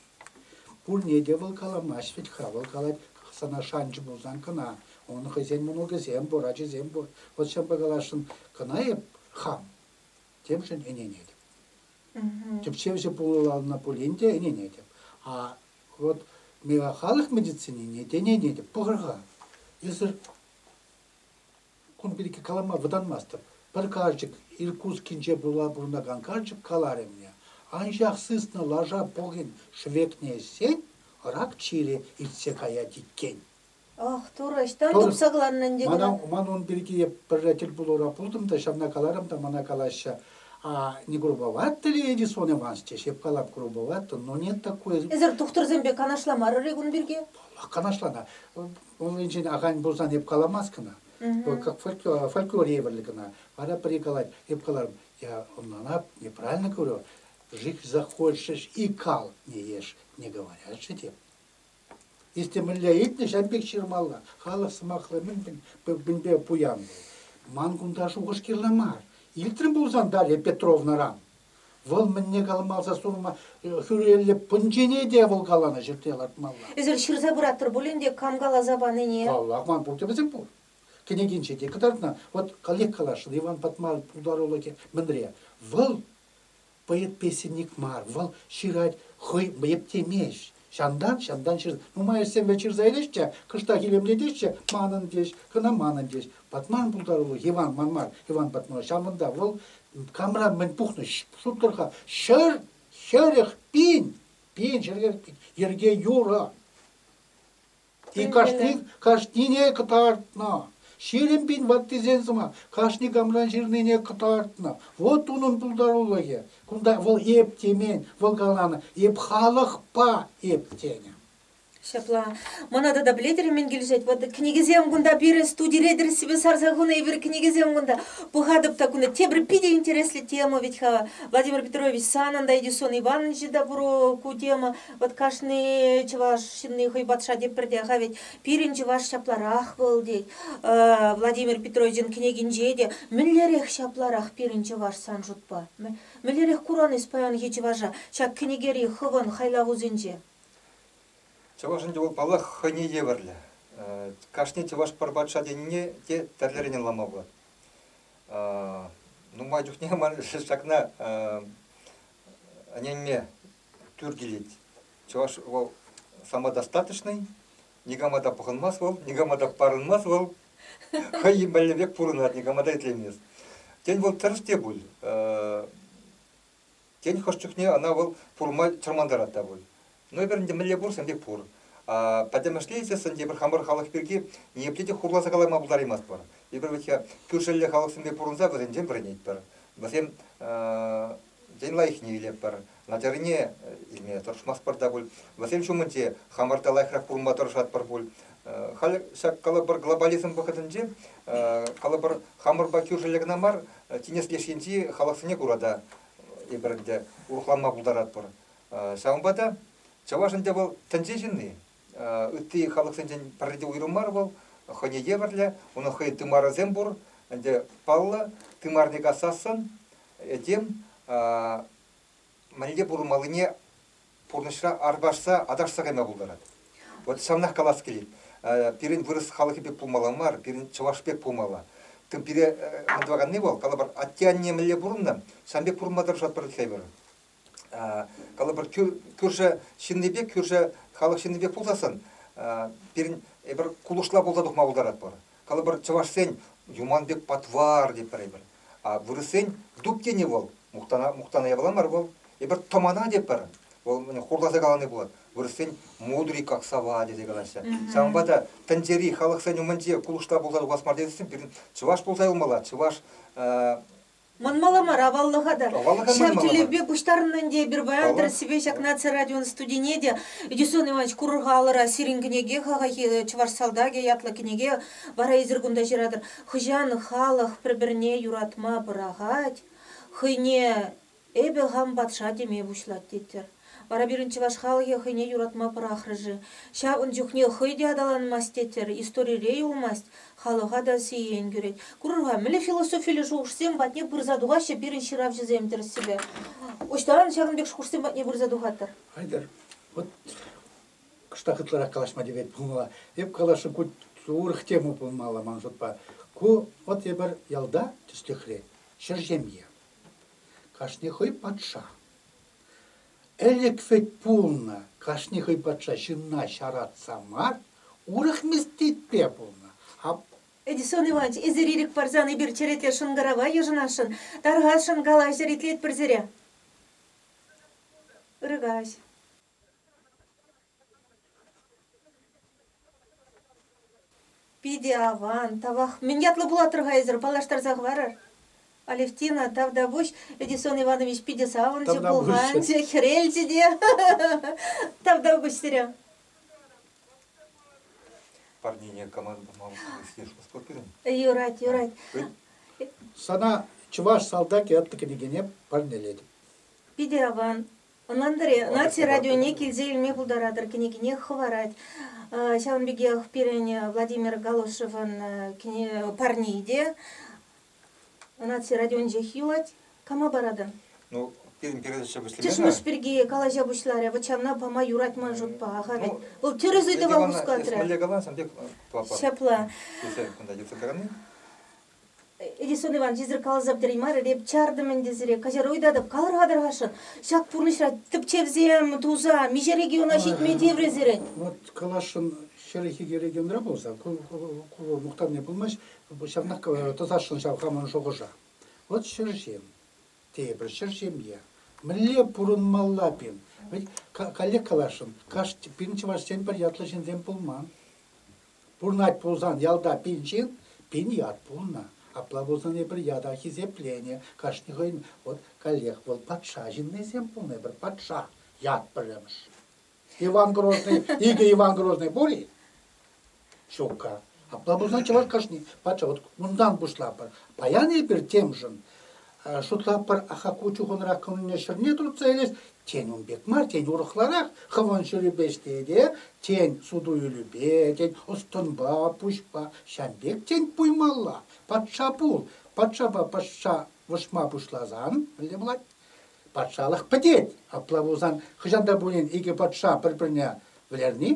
Пурне те вӑл каламасть вӗт-ха, вӑл калать, сана шанчӑ пулсан кӑна, ун хӑйсен мӑнукӗсем пур, ачисем пур. Вӑл ҫавӑнпа каласшӑн, кӑна эп хам, темшӗн ӗненетӗп. Тӗпчевҫӗ пулӑланӑ пулин те ӗненетӗп. А Вот миңа халӑх медицинине тӗнене те пӑхӑр-ха. Эсир кун пирки калама вӑтанмастӑп. Пӗр карчӑк Иркутскинче пула пурӑнакан карчӑк каларӗ мне, анчах сыснӑ лаша пӑхин шӗвекне ӗҫсен рак чирӗ иртсе каять иккен. Ах, Турӑ, ӑҫтан Турӑ- тупса кӑларнӑ ӗнтӗ Мана, кӑна? ман ун пирки пӗрре тӗлпулура пултӑм та ҫавна каларӑм та мана калаҫҫӗ. А не грубовато ли Эдисон Иванович? те ҫеп калап грубовато, но нет такое. Эсир тухтӑрсемпе канашламарӑр-и кун пирки? Паллах, канашлана. Уншӑн ахаль пулсан эп каламас кӑна. Вӑл как фольклор, фольклор евӗрлӗ кӑна. Вара пӗри калать, эп каларӑм, я ӑнланап, неправильно говорю, жить захочешь и кал не ешь, не говорят же те. Эсте мӗнле ыйтнӑ, ҫавӑн пек ҫырмалла. Халӑх сӑмахлӑ мӗн-мӗн пӗвпенпе пуян вӑл. Ман кунта шухӑш кирлӗ мар. Илтрӗм пулсан Дарья Петровнӑран. Вӑл мӗнне каламалса сурма хӳреллӗ пунчине те вӑл каланӑ ҫӗртме лартмалла. Эсир ҫырса пыратӑр пулин те кам каласа панине. Паллах, ман пурте вӗсем пур. Кӗнекинче те кӑтартнӑ. Вот каллех каласшӑн, Иван Патмар пултарулӑхӗ мӗнре? Вӑл Поэт песенник мар, вӑл ҫырать хӑй ептемест. Ҫантан, ҫантан ҫыр. Нумай ӗҫсемпе ҫырса илеҫ те, кӑштах илемлетеҫҫӗ, манӑн теҫ, кӑна манӑн теҫ. Патман пултарулӑх Иван ман мар, Иван Патман. Ҫавӑнта вӑл камра мӗн пухнӑ, шутлӑр-ха, ҫӗр, хӗрӗх, пин, пин ҫӗрхӗр, йӗрке юрӑ. И кашни, кашнине кӑтартнӑ. Ҫирӗм пин ваттисен сӑмах кашни камран ҫырнине кӑтартнӑ. Вот унӑн пултарулӑхӗ. Кунта вӑл эп темен, вӑл каланӑ эп халӑхпа эп тенӗ. Ҫапла. Мана тата пӗлетӗр-и мӗн килӗшет? Вот кӗнекесем кунта пирӗн студире тӗрӗссипе сарса хунӑ эпир кӗнекесем кунта. Пӑхатӑп та кунта тепӗр питӗ интереслӗ тема ведь-ха. Владимир Петрович, санӑн та Эдисон Ивановичӑн та пур ку тема. Вот кашни чӑваш ҫынни хӑй патша теппӗр тех-ха ведь пирӗн чӑваш ҫапларах вӑл тет. Э, Владимир Петровичӑн кӗнекинче те мӗнлерех ҫапларах пирӗн чӑваш сан шутпа? Мӗнлерех куран эс паянхи чӑваша ҫак кӗнекери хӑвӑн хайлавусенче? Чӑваш ӗнтӗ вӑл, паллах, хӑйне евӗрлӗ. Кашни чӑваш пӗр патша тенине те тӗрлӗрен ӑнланма пулать. Нумай чухне ман ҫакна ӗненме тӳр килет. Чӑваш вӑл самодостаточный, никама та пӑхӑнмас вӑл, никама та парӑнмас вӑл, хӑй мӗнле пек пурӑнать, никама та итлемес. Тен, вӑл тӗрӗс те пуль. Тен, хӑш чухне ӑна вӑл пурма чӑрмантарать та пуль. Ну, эпир ӗнтӗ мӗнле пур, сан пек пур. пӗтӗмӗшле ӗнтӗ эпир хамӑр халӑх пирки ниепле те хурласа калама пултараймастпӑр. Эпир вӗт кӳршӗллӗ халӑхсемпе пурӑнса вӗсенчен вӗренетпӗр. Вӗсем Ден лайӑхне илетпӗр. Надярлине илме тӑрӑшмастпӑр та пуль. Вӗсем ҫумӗнче хамӑр та лайӑхрах пурӑнма тӑрӑшатпӑр пуль. Халь ҫак калӑпӑр глобализм вӑхӑтӗнче калӑпӑр хамӑрпа кӳршӗллӗ кӑна мар, тинӗс леш енчи халӑхсене кура та эпир ӗнтӗ урӑхланма пултаратпӑр. Ҫавӑнпа та чӑваш ӗнтӗ вӑл тӗнче ҫынни. ытти халӑхсенчен пӗрре те уйрӑм мар вӑл, хӑйне евӗрлӗ, унӑн хӑй тымарӗсем пур. Ӗнтӗ паллӑ, тымарне касассӑн этем мӗнле пурӑнмаллине пурнӑҫра арпашса, аташса кайма пултарать. Вот ҫавнах калас килет. Пирӗн вырӑс халӑхӗ пек пулмалла мар, пирӗн чӑваш пек пулмалла. Пире мӑн тӑваканни вӑл, калӑпӑр, атте-анне мӗнле пурӑннӑ, ҫавӑн пек пурӑнма тӑрӑшать пӗр хӗвӗр. калӑпӑр кӳршӗ ҫыннипе кӳршӗ халӑх ҫыннипе пулсассӑн пирӗн эпир кулӑшла пулса тухма пултаратпӑр калӑпӑр чӑвашсен юман пек патвар тетпӗр эпир а вырӑссен дуб тени вӑл мухтана мухтана япала мар вӑл эпир тӑмана тетпӗр вӑл хурласа калани пулать вырӑссен мудри как сова тесе калаҫҫӗ ҫавӑнпа та тӗнчери халӑхсен умӗнче кулӑшла пулса тухас мар тесен пирӗн чӑваш пулса юлмалла чӑваш Мӑн Маламар аваллӑха та. Ҫав тӗллевпе пуҫтарӑннӑ ӗнтӗ эпир паян тӗрӗссипе ҫак наци радион студине те. Эдисон Иванович курӑр-ха алӑра сирӗн кӗнеке хахахи Чӑваш салтакӗ ятлӑ кӗнеке вара эсир кунта ҫыратӑр. Хӑҫан халӑх пӗр-пӗрне юратма пӑрахать, хӑйне эпӗ хам патша теме пуҫлать тетпӗр. Вара пирӗн чӑваш халӑхӗ хӑйне юратма пӑрахрӗ-ши? Ҫав ун чухне хӑй те аталанмасть тетер, историре юлмасть, халӑха та сиен кӳрет. Курӑр-ха, мӗнле философиллӗ шухӑшсем патне пырса тухаҫҫӗ пирӗн ҫыравҫӑсем тӗрӗссипе. Ӑҫтан ҫакӑн пек шухӑшсем патне пырса тухатӑр? Хайтер, вот кӑштах ытларах калаҫма тивет пулмалла. Эп каласшӑн, ку урӑх тема пулмалла ман шутпа. Ку вот эпир ялта, тӗслӗхре, ҫӗр ҫемье. Кашни хӑй патша. Ӗлӗк вӗт пулнӑ, кашни хӑй патша ҫынна ҫаратса мар, урӑх местечке пулнӑ. Эдисон Иванч, эсир ирӗк парсан эпир черете шӑнкӑрава йышӑнасшӑн. Тархасшӑн, калаҫӑр, итлетпӗр сире. Ыркаҫ. Питӗ аван, тавах. Мӗн ятлӑ пулаттӑр-ха эсӗр? Паллаштарса хӑварар. Алевтина Тавтапуҫ, Эдисон Иванович питӗ савӑнчӗ, Тавтапуҫ. пуканчӗ, хӗрелчӗ те. Тавтапуҫ сире. Парнене командӑма служба пирӗн. Юрать, юрать. Сана чӑваш салтакӗ атты кӗнекене парнелетӗп. Питӗ аван. Ӑнлантӑр-и, Наци радионе килсе илме пултаратӑр кӗнекине хӑварать. Ҫавӑн пекех пирӗн Владимир Галушевӑн парней те Наци радиончех юлать. Кама паратӑн? Ну, пирӗн передача вӗҫлеме Чӑшмӑш пирки калаҫа пуҫларӗ. Вӑт ҫавна пама юрать ман шутпа. Аха вӗт. Вӑл тӗрӗс ыйтӑва хускатрӗ. Ӳсмелле каласан пек ҫапла. Тесе кунта йӑтса тӑрани. Эдисон Иван йӗсӗр тереймарӗ, эп чартӑм ӗнтӗ сире, каҫар уйтатӑп, калӑр-хатӑрхасшӑн. Ҫак пурнӑҫра тӗпчевсем туса миҫе региона ҫитме тиврӗ сирӗн? Вот каласшӑн хӗрӗхе те регионра пулса ку мухтавне пулмасть, ҫавнах тӑсасшӑн ҫав хамӑн шухӑша. Вот ҫӗрҫем, тейӗпӗр, ҫӗр ҫемье. Мӗнле пурӑнмалла пин? Ведь коллег каласшӑн, кашни пин чӑвашсен пӗр ятлӑ ҫынсем пулман. Пурнать пулсан ялта пин ҫын, пин ят пулнӑ. Апла пулсан эпир ята хисепленӗ. Кашни хӑйӗн вот коллег вӑл патша ҫыннисем пулнӑ, эпир патша ят пӗрремӗш. Иван Грозный, икӗ Иван Грозный пур-и? Ҫукка. Апла пулсан чӑваш кашни патша вот унтан пуҫлатпӑр. Паян эпир темшӗн Шутлатпӑр, Хакку чухӑнрах кӑмӑлне ҫӗрне туртса илес. Тен, ун пек мар, тен, урӑхларах хӑвӑн ҫӗрӳпе ӗҫледе, тен, суту-илӳпе, тен, ӑс-тӑнпа, пуҫпа. Ҫав пек, тен, пуймалла. Патша пул. Патшапа патша вӑшма пуҫласан, мӗнле пулать? Патшалӑх пӗтет. Апла пулсан, хӑҫан та пулин икӗ патша пӗр-пӗрне вӗлерни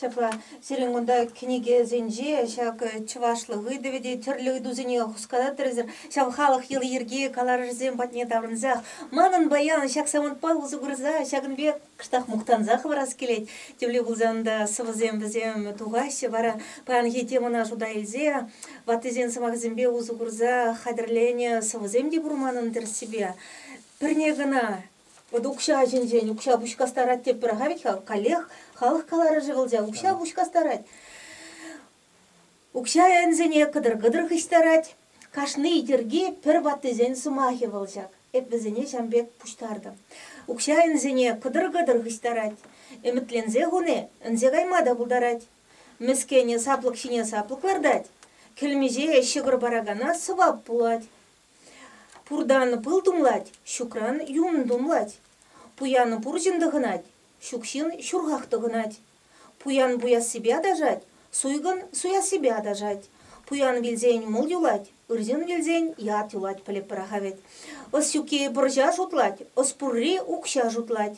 Ҫапла, сирӗн кунта кӗнекесенче ҫак чӑвашлӑх ыйтӑвӗ те тӗрлӗ ыйтусене хускататтӑрсӑр, ҫав халӑх йӑли-йӗрки каларӑшӗсем патне таврӑнсах, манӑн паян ҫак самантпа усӑ курса ҫакӑн пек кӑштах мухтанса хӑварас килет. Тӳлев пулсан та сӑвӑсем вӗсем тухаҫҫӗ. Вара паянхи темӑна шута илсе ваттисен сӑмахӗсемпе усӑ курса хатӗрленӗ сӑвӑсем те пур манӑн тӗрӗссипе. Пӗрне кӑна Вот укҫа ҫинчен укҫа пуҫ кастарать теппӗр-ха ведь-ха, каллех халӑх каларӑшӗ вӑл ҫав, укҫа пуҫ кастарать. Укҫа ӗнсене кӑтӑр-кӑтӑр хыҫтарать. Кашни йӗрки пӗр ваттисен сӑмахӗ вӑл ҫак. Эп вӗсене ҫам пек пуҫтартӑм. Укҫа ӗнсене кӑтӑр-кӑтӑр хыҫтарать. Ӗмӗтленсе хуни ӗнсе кайма та пултарать. Мӗскӗнӗ саплӑк ҫине саплӑк лартать. Кӗлмиҫе ҫӑкӑр паракана сӑвап пулать. Пуртан пыл тумлать, ҫукран юн тумлать. Пуян пур ҫын тӑхӑнать, ҫук ҫын ҫурхах тӑхӑнать. Пуян пуяссипе аташать, суйкӑн суяссипе аташать. Пуян вилсен мул юлать, ырҫын вилсен ят юлать пӗлӗп пӑраха вӗт. Ӑсҫукки пӑрҫа шутлать, ӑс пурри укҫа шутлать.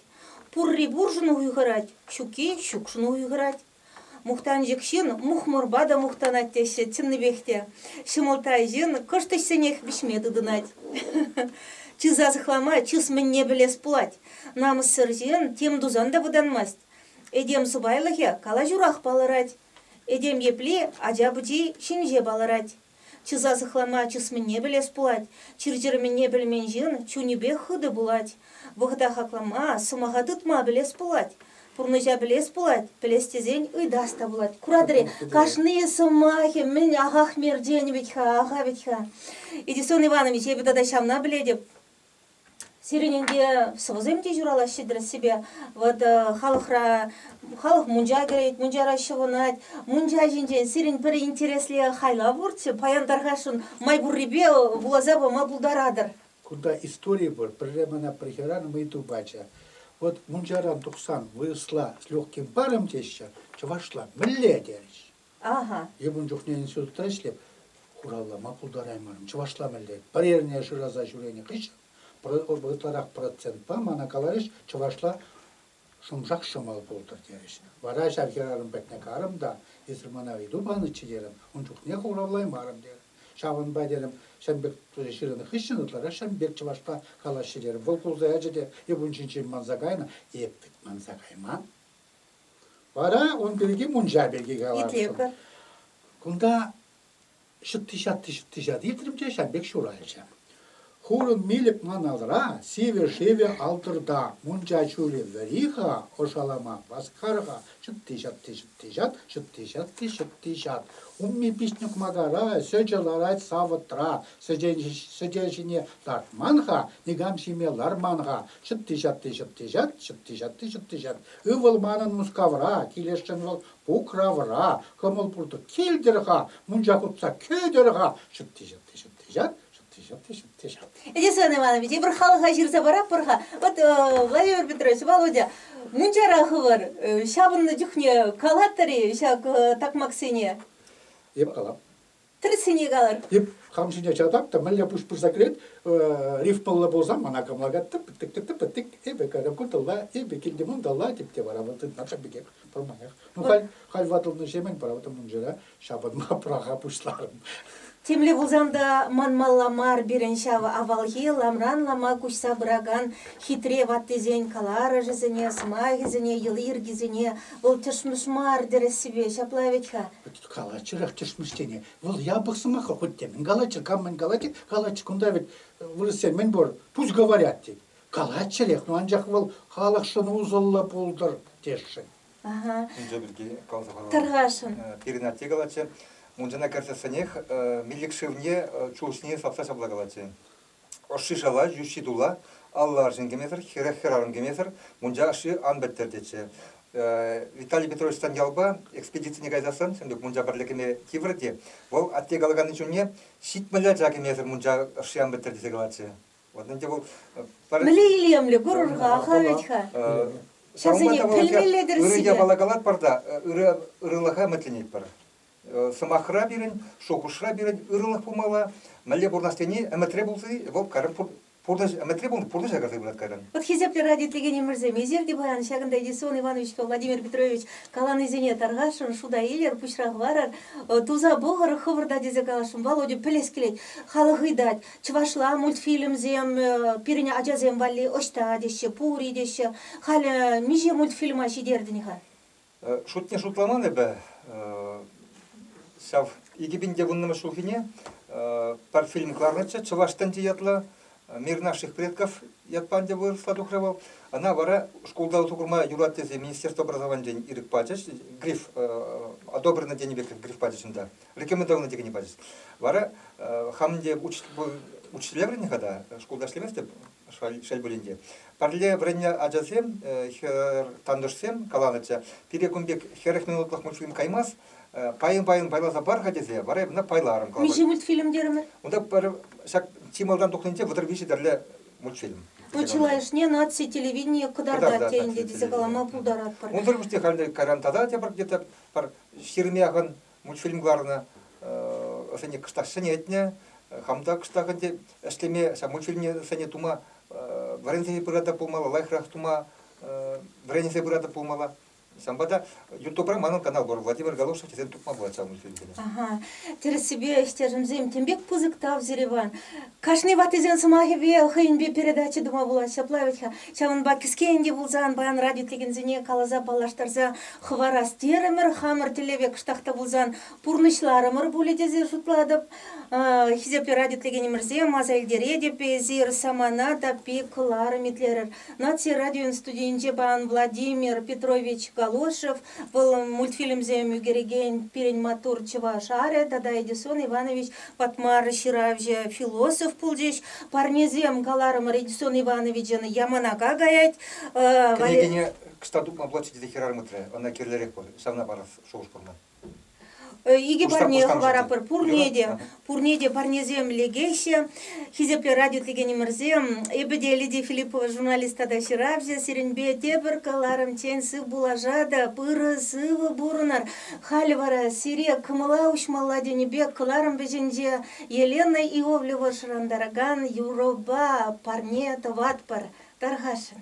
Пурри пуршӑн хуйхӑрать, ҫукки ҫукшӑн хуйхӑрать. Мухтанчӑк ҫын мухмурпа та мухтанать теҫҫӗ чӑннипех те. Ҫӑмӑлттай ҫын кӑшт ӗҫсенех вӗҫме тытӑнать. Чыса сыхлама чыс мӗнне пӗлес пулать. Намӑссӑр ҫын тем тусан та вӑтанмасть. Этем сӑпайлӑхӗ калаҫурах палӑрать. Этем епле ача пӑчи ҫинҫе палӑрать. Чыса сыхлама чысменне пӗлес пулать, чир-чӗрменне пӗлмен ҫын чунӗпех хытӑ пулать. Вӑхӑта хаклама, сӑмаха тытма пӗлес пулать. Пурнӑҫа пӗлес пулать, пӗлес тесен ыйтас та пулать. Куратӑр-и, кашни сӑмахӗ мӗн ахах-мер тенӗ вӗт-ха, аха вӗт-ха. Эдисон Иванович, эпӗ тата ҫавна пӗлетӗп. Сирӗн ӗнтӗ сӑвӑсем те ҫуралаҫҫӗ тӗрӗссипе. Вӑт халӑхра халӑх мунча кӗрет, мунчара ҫӑвӑнать. Мунча ҫинчен сирӗн пӗр интереслӗ хайлав пурччӗ. Паян тархасшӑн, май пуррипе вуласа пама пултаратӑр. Кунта истори пур. Пӗрре мана пӗр хӗрарӑм ыйту пачӗ. Вӑт мунчаран тухсан вырӑсла с легким паром теҫҫӗ, чӑвашла мӗнле? терӗҫ. Ага. Эп ун чухне институтра ӗҫлеп, хуралла ма пултараймарӑм. Чӑвашла мӗнле? Пӗр эрне шыраса ҫӳренӗ хыҫҫӑн ытларах процентпа мана каларӗҫ, чӑвашла шӑмшак ҫӑмал пултӑр терӗҫ. Вара ҫав хӗрарӑм патне карӑм та, эсир мана ыйту панӑччӗ терӗм, ун чухне хуравлаймарӑм терӗм. Ҫавӑнпа терӗм, ҫын пек ҫырӑнӑ хыҫҫӑн ытларах ҫын пек чӑвашла калаҫҫӗ терӗм. Вӑл кулса ячӗ те эп ун ҫинчен манса кайнӑ. Эп вӗт манса кайман. Вара ун пирки мунча пирки калаттӑм. Кунта ҫӑтти-ҫатти ҫӑтти-ҫати итрӗм те ҫав пек ҫуралчӗ. Хурӑн милӗк ман алра, сивӗ-шивӗ алтӑрта, мунча ҫулӗ вӗри-ха, ӑшалама васкар-ха, ҫӑтти-ҫатти ҫӑтти-ҫат, ҫӑтти-ҫатти ҫӑтти-ҫат. Умми пиҫнӗ кумакара, сӗчӗ ларать савӑтра, сӗтел ҫине лартман-ха, никам ҫиме ларман-ха, ҫӑтти-ҫатти ҫӑтти-ҫат, ҫӑтти-ҫатти ҫӑтти-ҫат. Ывӑл манӑн Мускавра, килесшӗн вӑл Пукравра, кӑмӑл пуртӑ килтӗр-ха, мунча хутса кӗтӗр-ха, ҫӑтти, ҫӑтти, ҫӑтти, ҫат, ҫӑтти, ҫӑтти, ҫӑтти, ҫат. Эдисон Иванович, эпир халӑха ҫырса паратпӑр-ха. Вӑт, Владимир Петрович, Володя, мунчара хывӑр, ҫапӑннӑ чухне калатӑр-и ҫак такмаксене? Эп калам. Тӗрӗсене калӑр. Эп хам ҫине чатап та мӗнле пуҫ пырса кӗрет, рифпӑллӑ пулсам, ӑна кӑмака тӑп-тӑк-тӑп-тӑк, эпӗ каракутӑлла, эпӗ килтем унталла, тӗп те вара вӑл тытмасӑр пекех пӑрманех. Ну, халь халь ватӑлнӑҫемӗн правда мунчара ҫапӑнма пӑраха пуҫларӑм. Темле пулсан та манмалла мар пирӗн ҫав авалхи ламран лама куҫса пыракан хитре ваттисен каларӑшӗсене, сӑмахӗсене, йӑли-йӗркисене вӑл тӗшмӗш мар тӗрӗссипе ҫапла вӗт-ха. калаччӑрах тӗшмӗш тени. Вӑл япӑх сӑмах хоть те мӗн калаччӑр, кам мӗн калать, калаччӑр. Кунта вӗт вырӑссем мӗн пур, пусть говорят тет. Калаччӑрех, ну анчах вӑл халӑхшӑн усӑллӑ пултӑр тесшӗн. Ага. Ӗнтӗ пирки каласа парам. Тархасшӑн. Пирӗн атте калатчӗ, мунчана кӗрсессӗнех милӗк шывне чулҫине сапса ҫапла калатчӗ. Ӑшши шала, йӳҫҫи тула, алла арҫын кӗмесӗр, хӗрех хӗрарӑм кӗмесӗр мунча ӑшши ан пӗттӗр тетчӗ. Виталий Петровичтан ялпа экспедицине кайсассан Сӗнтук мунча пӗрле кӗме тиврӗ те вӑл атте калаканни чунне ҫитмӗл ача кӗмесӗр мунча ӑшши ан пӗттӗр тесе калатчӗ. Вот ӗнтӗ вӑл пӗр... Мӗнле илемлӗ курӑр-ха, вӗт-ха. Ҫавсене пӗлмелле-тӗр сире. Ырӑ япала калатпӑр та ырӑлӑха ӗмӗтленетпӗр. Сӑмахра пирӗн, шухӑшра пирӗн ырӑлӑх пулмалла. Мӗнле пурӑнас тени ӗмӗтре пулса, вӑл карӑм пурнӑҫ ӗмӗтре пулнӑ пурнӑҫа кӗрсе пырать кайран. Ут хисеплӗ радиотелекенӗмӗрсем, эсир те паян ҫакӑнта Едисон Ивановичпа Владимир Петрович каланисене тархасшӑн, шута илӗр, пуҫра хӑварӑр, туса пӑхӑр, хӑвӑрта тесе каласшӑн. Володя пӗлес килет, халӑх ыйтать, чӑвашла мультфильмсем пирӗн ачасем валли ӑҫта теҫҫӗ, пур-и теҫҫӗ. Халӗ миҫе мультфильма ҫитертӗн-ха? Шутне шутламан эпӗ ҫав икӗ пин те вуннӑмӗш ҫулхине пӗр фильм кӑларнӑччӗ «Чӑваш тӗнчи» ятлӑ. Мир наших предков ятпа ӗнтӗ вырӑсла тухрӗ вӑл. Ана вара шкулта усӑ курма юрать тесе министерство образованийӗн ирӗк пачӗҫ. Гриф одобрено тенӗ пекех гриф пачӗҫ унта. Рекомендовано текенне пачӗҫ. Вара хам ӗнтӗ учитель вӗреннӗ-ха та, шкулта ӗҫлеместӗп. шел пулин те. Пӗрле вӗреннӗ ачасем, хӗр тантӑшсем каланӑччӗ, пире кун пек хӗрӗх минутлӑх мультфильм каймас, пайӑн-пайӑн пайласа пар-ха тесе вара эп ӑна пайларӑм. Миҫе мультфильм терӗмӗр? Унта пӗр ҫак чи малтан тухнинче вӑтӑр виҫӗ тӗрлӗ мультфильм. Ку чылайӑшне наци телевиденийӗ кӑтартать те ӗнтӗ тесе калама пултаратпӑр. Унсӑр пуҫне халь кайран тата тепӗр где-то пӗр ҫирӗм яхӑн мультфильм кӑларнӑ, ӑшене кӑштах ҫӗнетнӗ. Хам та кӑштах ӗнтӗ ӗҫлеме, ҫав мультфильмсене тума вӗренсе пырата пулмалла, лайӑхрах тума вӗренсе пырата пулмалла. Ҫавӑнпа та Ютубра манӑн канал пур, Владимир Галушев тесен тупма пулать ҫав мультфильмсене. Ага. Тӗрӗссипе, ӗҫтешӗмсем, тем пек пысӑк тав сире, Иван. Кашни ваттисен сӑмахӗпе, хӑйӗнпе передача тума пулать, ҫапла вӗт-ха. Ҫавӑнпа кӗске ӗнтӗ пулсан паян радио итлекенсене каласа паллаштарса хӑварас терӗмӗр. Хамӑр тӗллеве кӑштах та пулсан пурнӑҫларӑмӑр пулӗ тесе шутлатӑп. Хисеплӗ радио итлекенӗмӗрсем, аса илтеретӗп, эсир самана таппи кӑларӑм итлерӗр. Наци радион студийӗнче паян Владимир Петрович Галошев Вӑл мультфильмсем ӳкерекен пирӗн маттур чӑваш арӗ тата Эдисон Иванович Патмар ҫыравҫӑ философ пулчӗҫ. Парнесем каларӑмӑр Эдисон Ивановичӑн Яманака каять. Кӗнекене кӑҫта тупма платчӗ тесе хӗрарӑм ыйтрӗ. Ӑна кирлӗрех пур, ҫавна парас шухӑш пур ман. Икӗ парне хӑваратпӑр, пурне те, пурне те парнесем лекеҫҫӗ. Хисеплӗ радиотекенӗмӗрсем, эпӗ те Лидия Филиппова журналист тата ҫыравҫӑ. Сирӗнпе тепӗр кӑларӑмччен сывпуллашатӑп, ырӑ сывӑ пурӑнӑр. Халӗ вара сире кӑмӑла уҫмалла тенӗ пек кӑларӑм вӗҫӗнче Елена Иовлева шӑрантаракан юрӑпа парне тӑватпӑр. Тархасшӑн.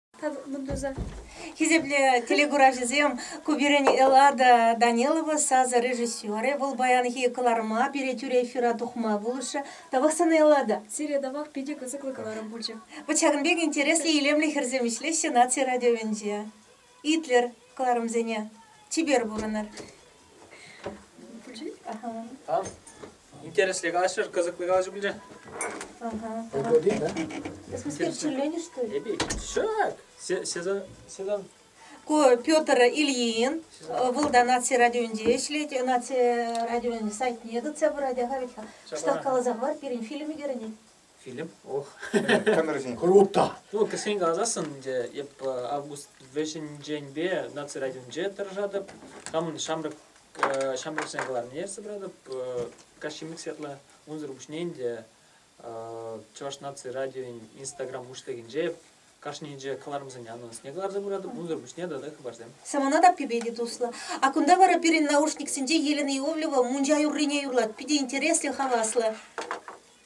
Хисеплӗ телекуравҫӑсем, ку пирӗн Эллада Данилова сасӑ режиссерӗ. Вӑл паянхи кӑларӑма пире тӳрӗ эфира тухма пулӑшрӗ. Тавах сана, Эллада. Сире тавах питӗ кӑсӑклӑ каларӑм пулчӗ. Вӑт ҫакӑн пек интереслӗ илемлӗ хӗрсем ӗҫлеҫҫӗ наци радиовӗнче. Итлӗр кӑларӑмсене, чипер пурӑнӑр. Интересли калаҫрӑр, кӑсӑкли калаҫу пулчӗ. Интересленӗ, что ли? Эпи, шак! Сезон Ку Петр Ильин, вӑл та наци радионде ӗҫлет, наци радионӗн сайтне тытса пырать, ахаветха. Штат каласа хӑвар, пирӗн фильм ӳкерӗнет. Филипп, ох. Кӑнӑрсен круто. Ну, кӗскен каласассӑн 이제 эп август вӗҫӗнченпе наци радионче тӑрӑшатӑп. Хамӑн ҫамрӑк ҫамрӑксен кӑларӑмне собратып каҫчимик сетла унсӑр пуҫне ӗнтӗ чӑваш наци радиойӗн инстаграм уҫлӑхӗнче кашнинче кӑларӑмсене анонсне кӑларса пыратӑп, унсӑр пуҫне тата хыпарсем. Самана таппипе те туслӑ. А кунта вара пирӗн наушниксенче Елена Иовлева мунча юррине юрлать. Питӗ интереслӗ, хаваслӑ.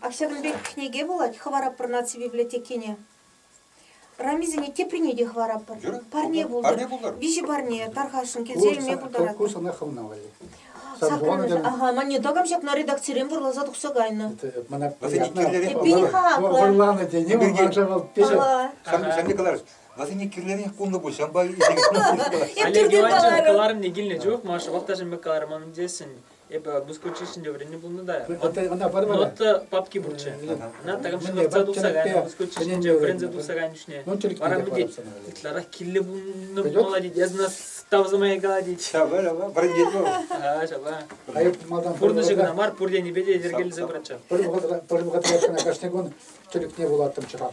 Ак ҫакӑн пек кӗнеке вулать хӑварӑпӑр наци библиотекине. Рамисене теприне те хӑвараппӑр. Юрӑ? Парне пултӑр. Парне пултӑр. Виҫӗ парне тархасшӑн, килсе илме пултарать. Ку сана хӑвна валли. Саккӑрмӗш, ага, мане такам ҫакна редакцирен вӑрласа тухса кайнӑ. Мана приятно. Эппин-ха, вӑрланӑ тени манша вӑл печать. Сан не каларӑш. Васене кирлӗрех пулнӑ пуль, ҫампа Эп түртен каларӑм. кӑларӑм не килнӗ чух, Маша, вӑл та мӗн каларӗ манӑн тесен, Эпӗ Бускучи ҫинче вӗреннӗ пулнӑ та. Ӑна пармара. Нота папки пурччӗ. Ӑна такам ҫунатса тухса кайнӑ Бускучи ҫинче вӗренсе тухса кайнӑ чухне. Вара мӗнте ытларах килле пулнӑ пулать, ясна тавзамайка тет. Вӗрентет вӑл. А, ҫапа. Пурнӑҫӗ кӑна мар, пур енӗпе те йӗркелесе пыратчӗ. Пӗр вӑхӑтра кашни кун тӗлӗкне вулаттӑм чӑрам.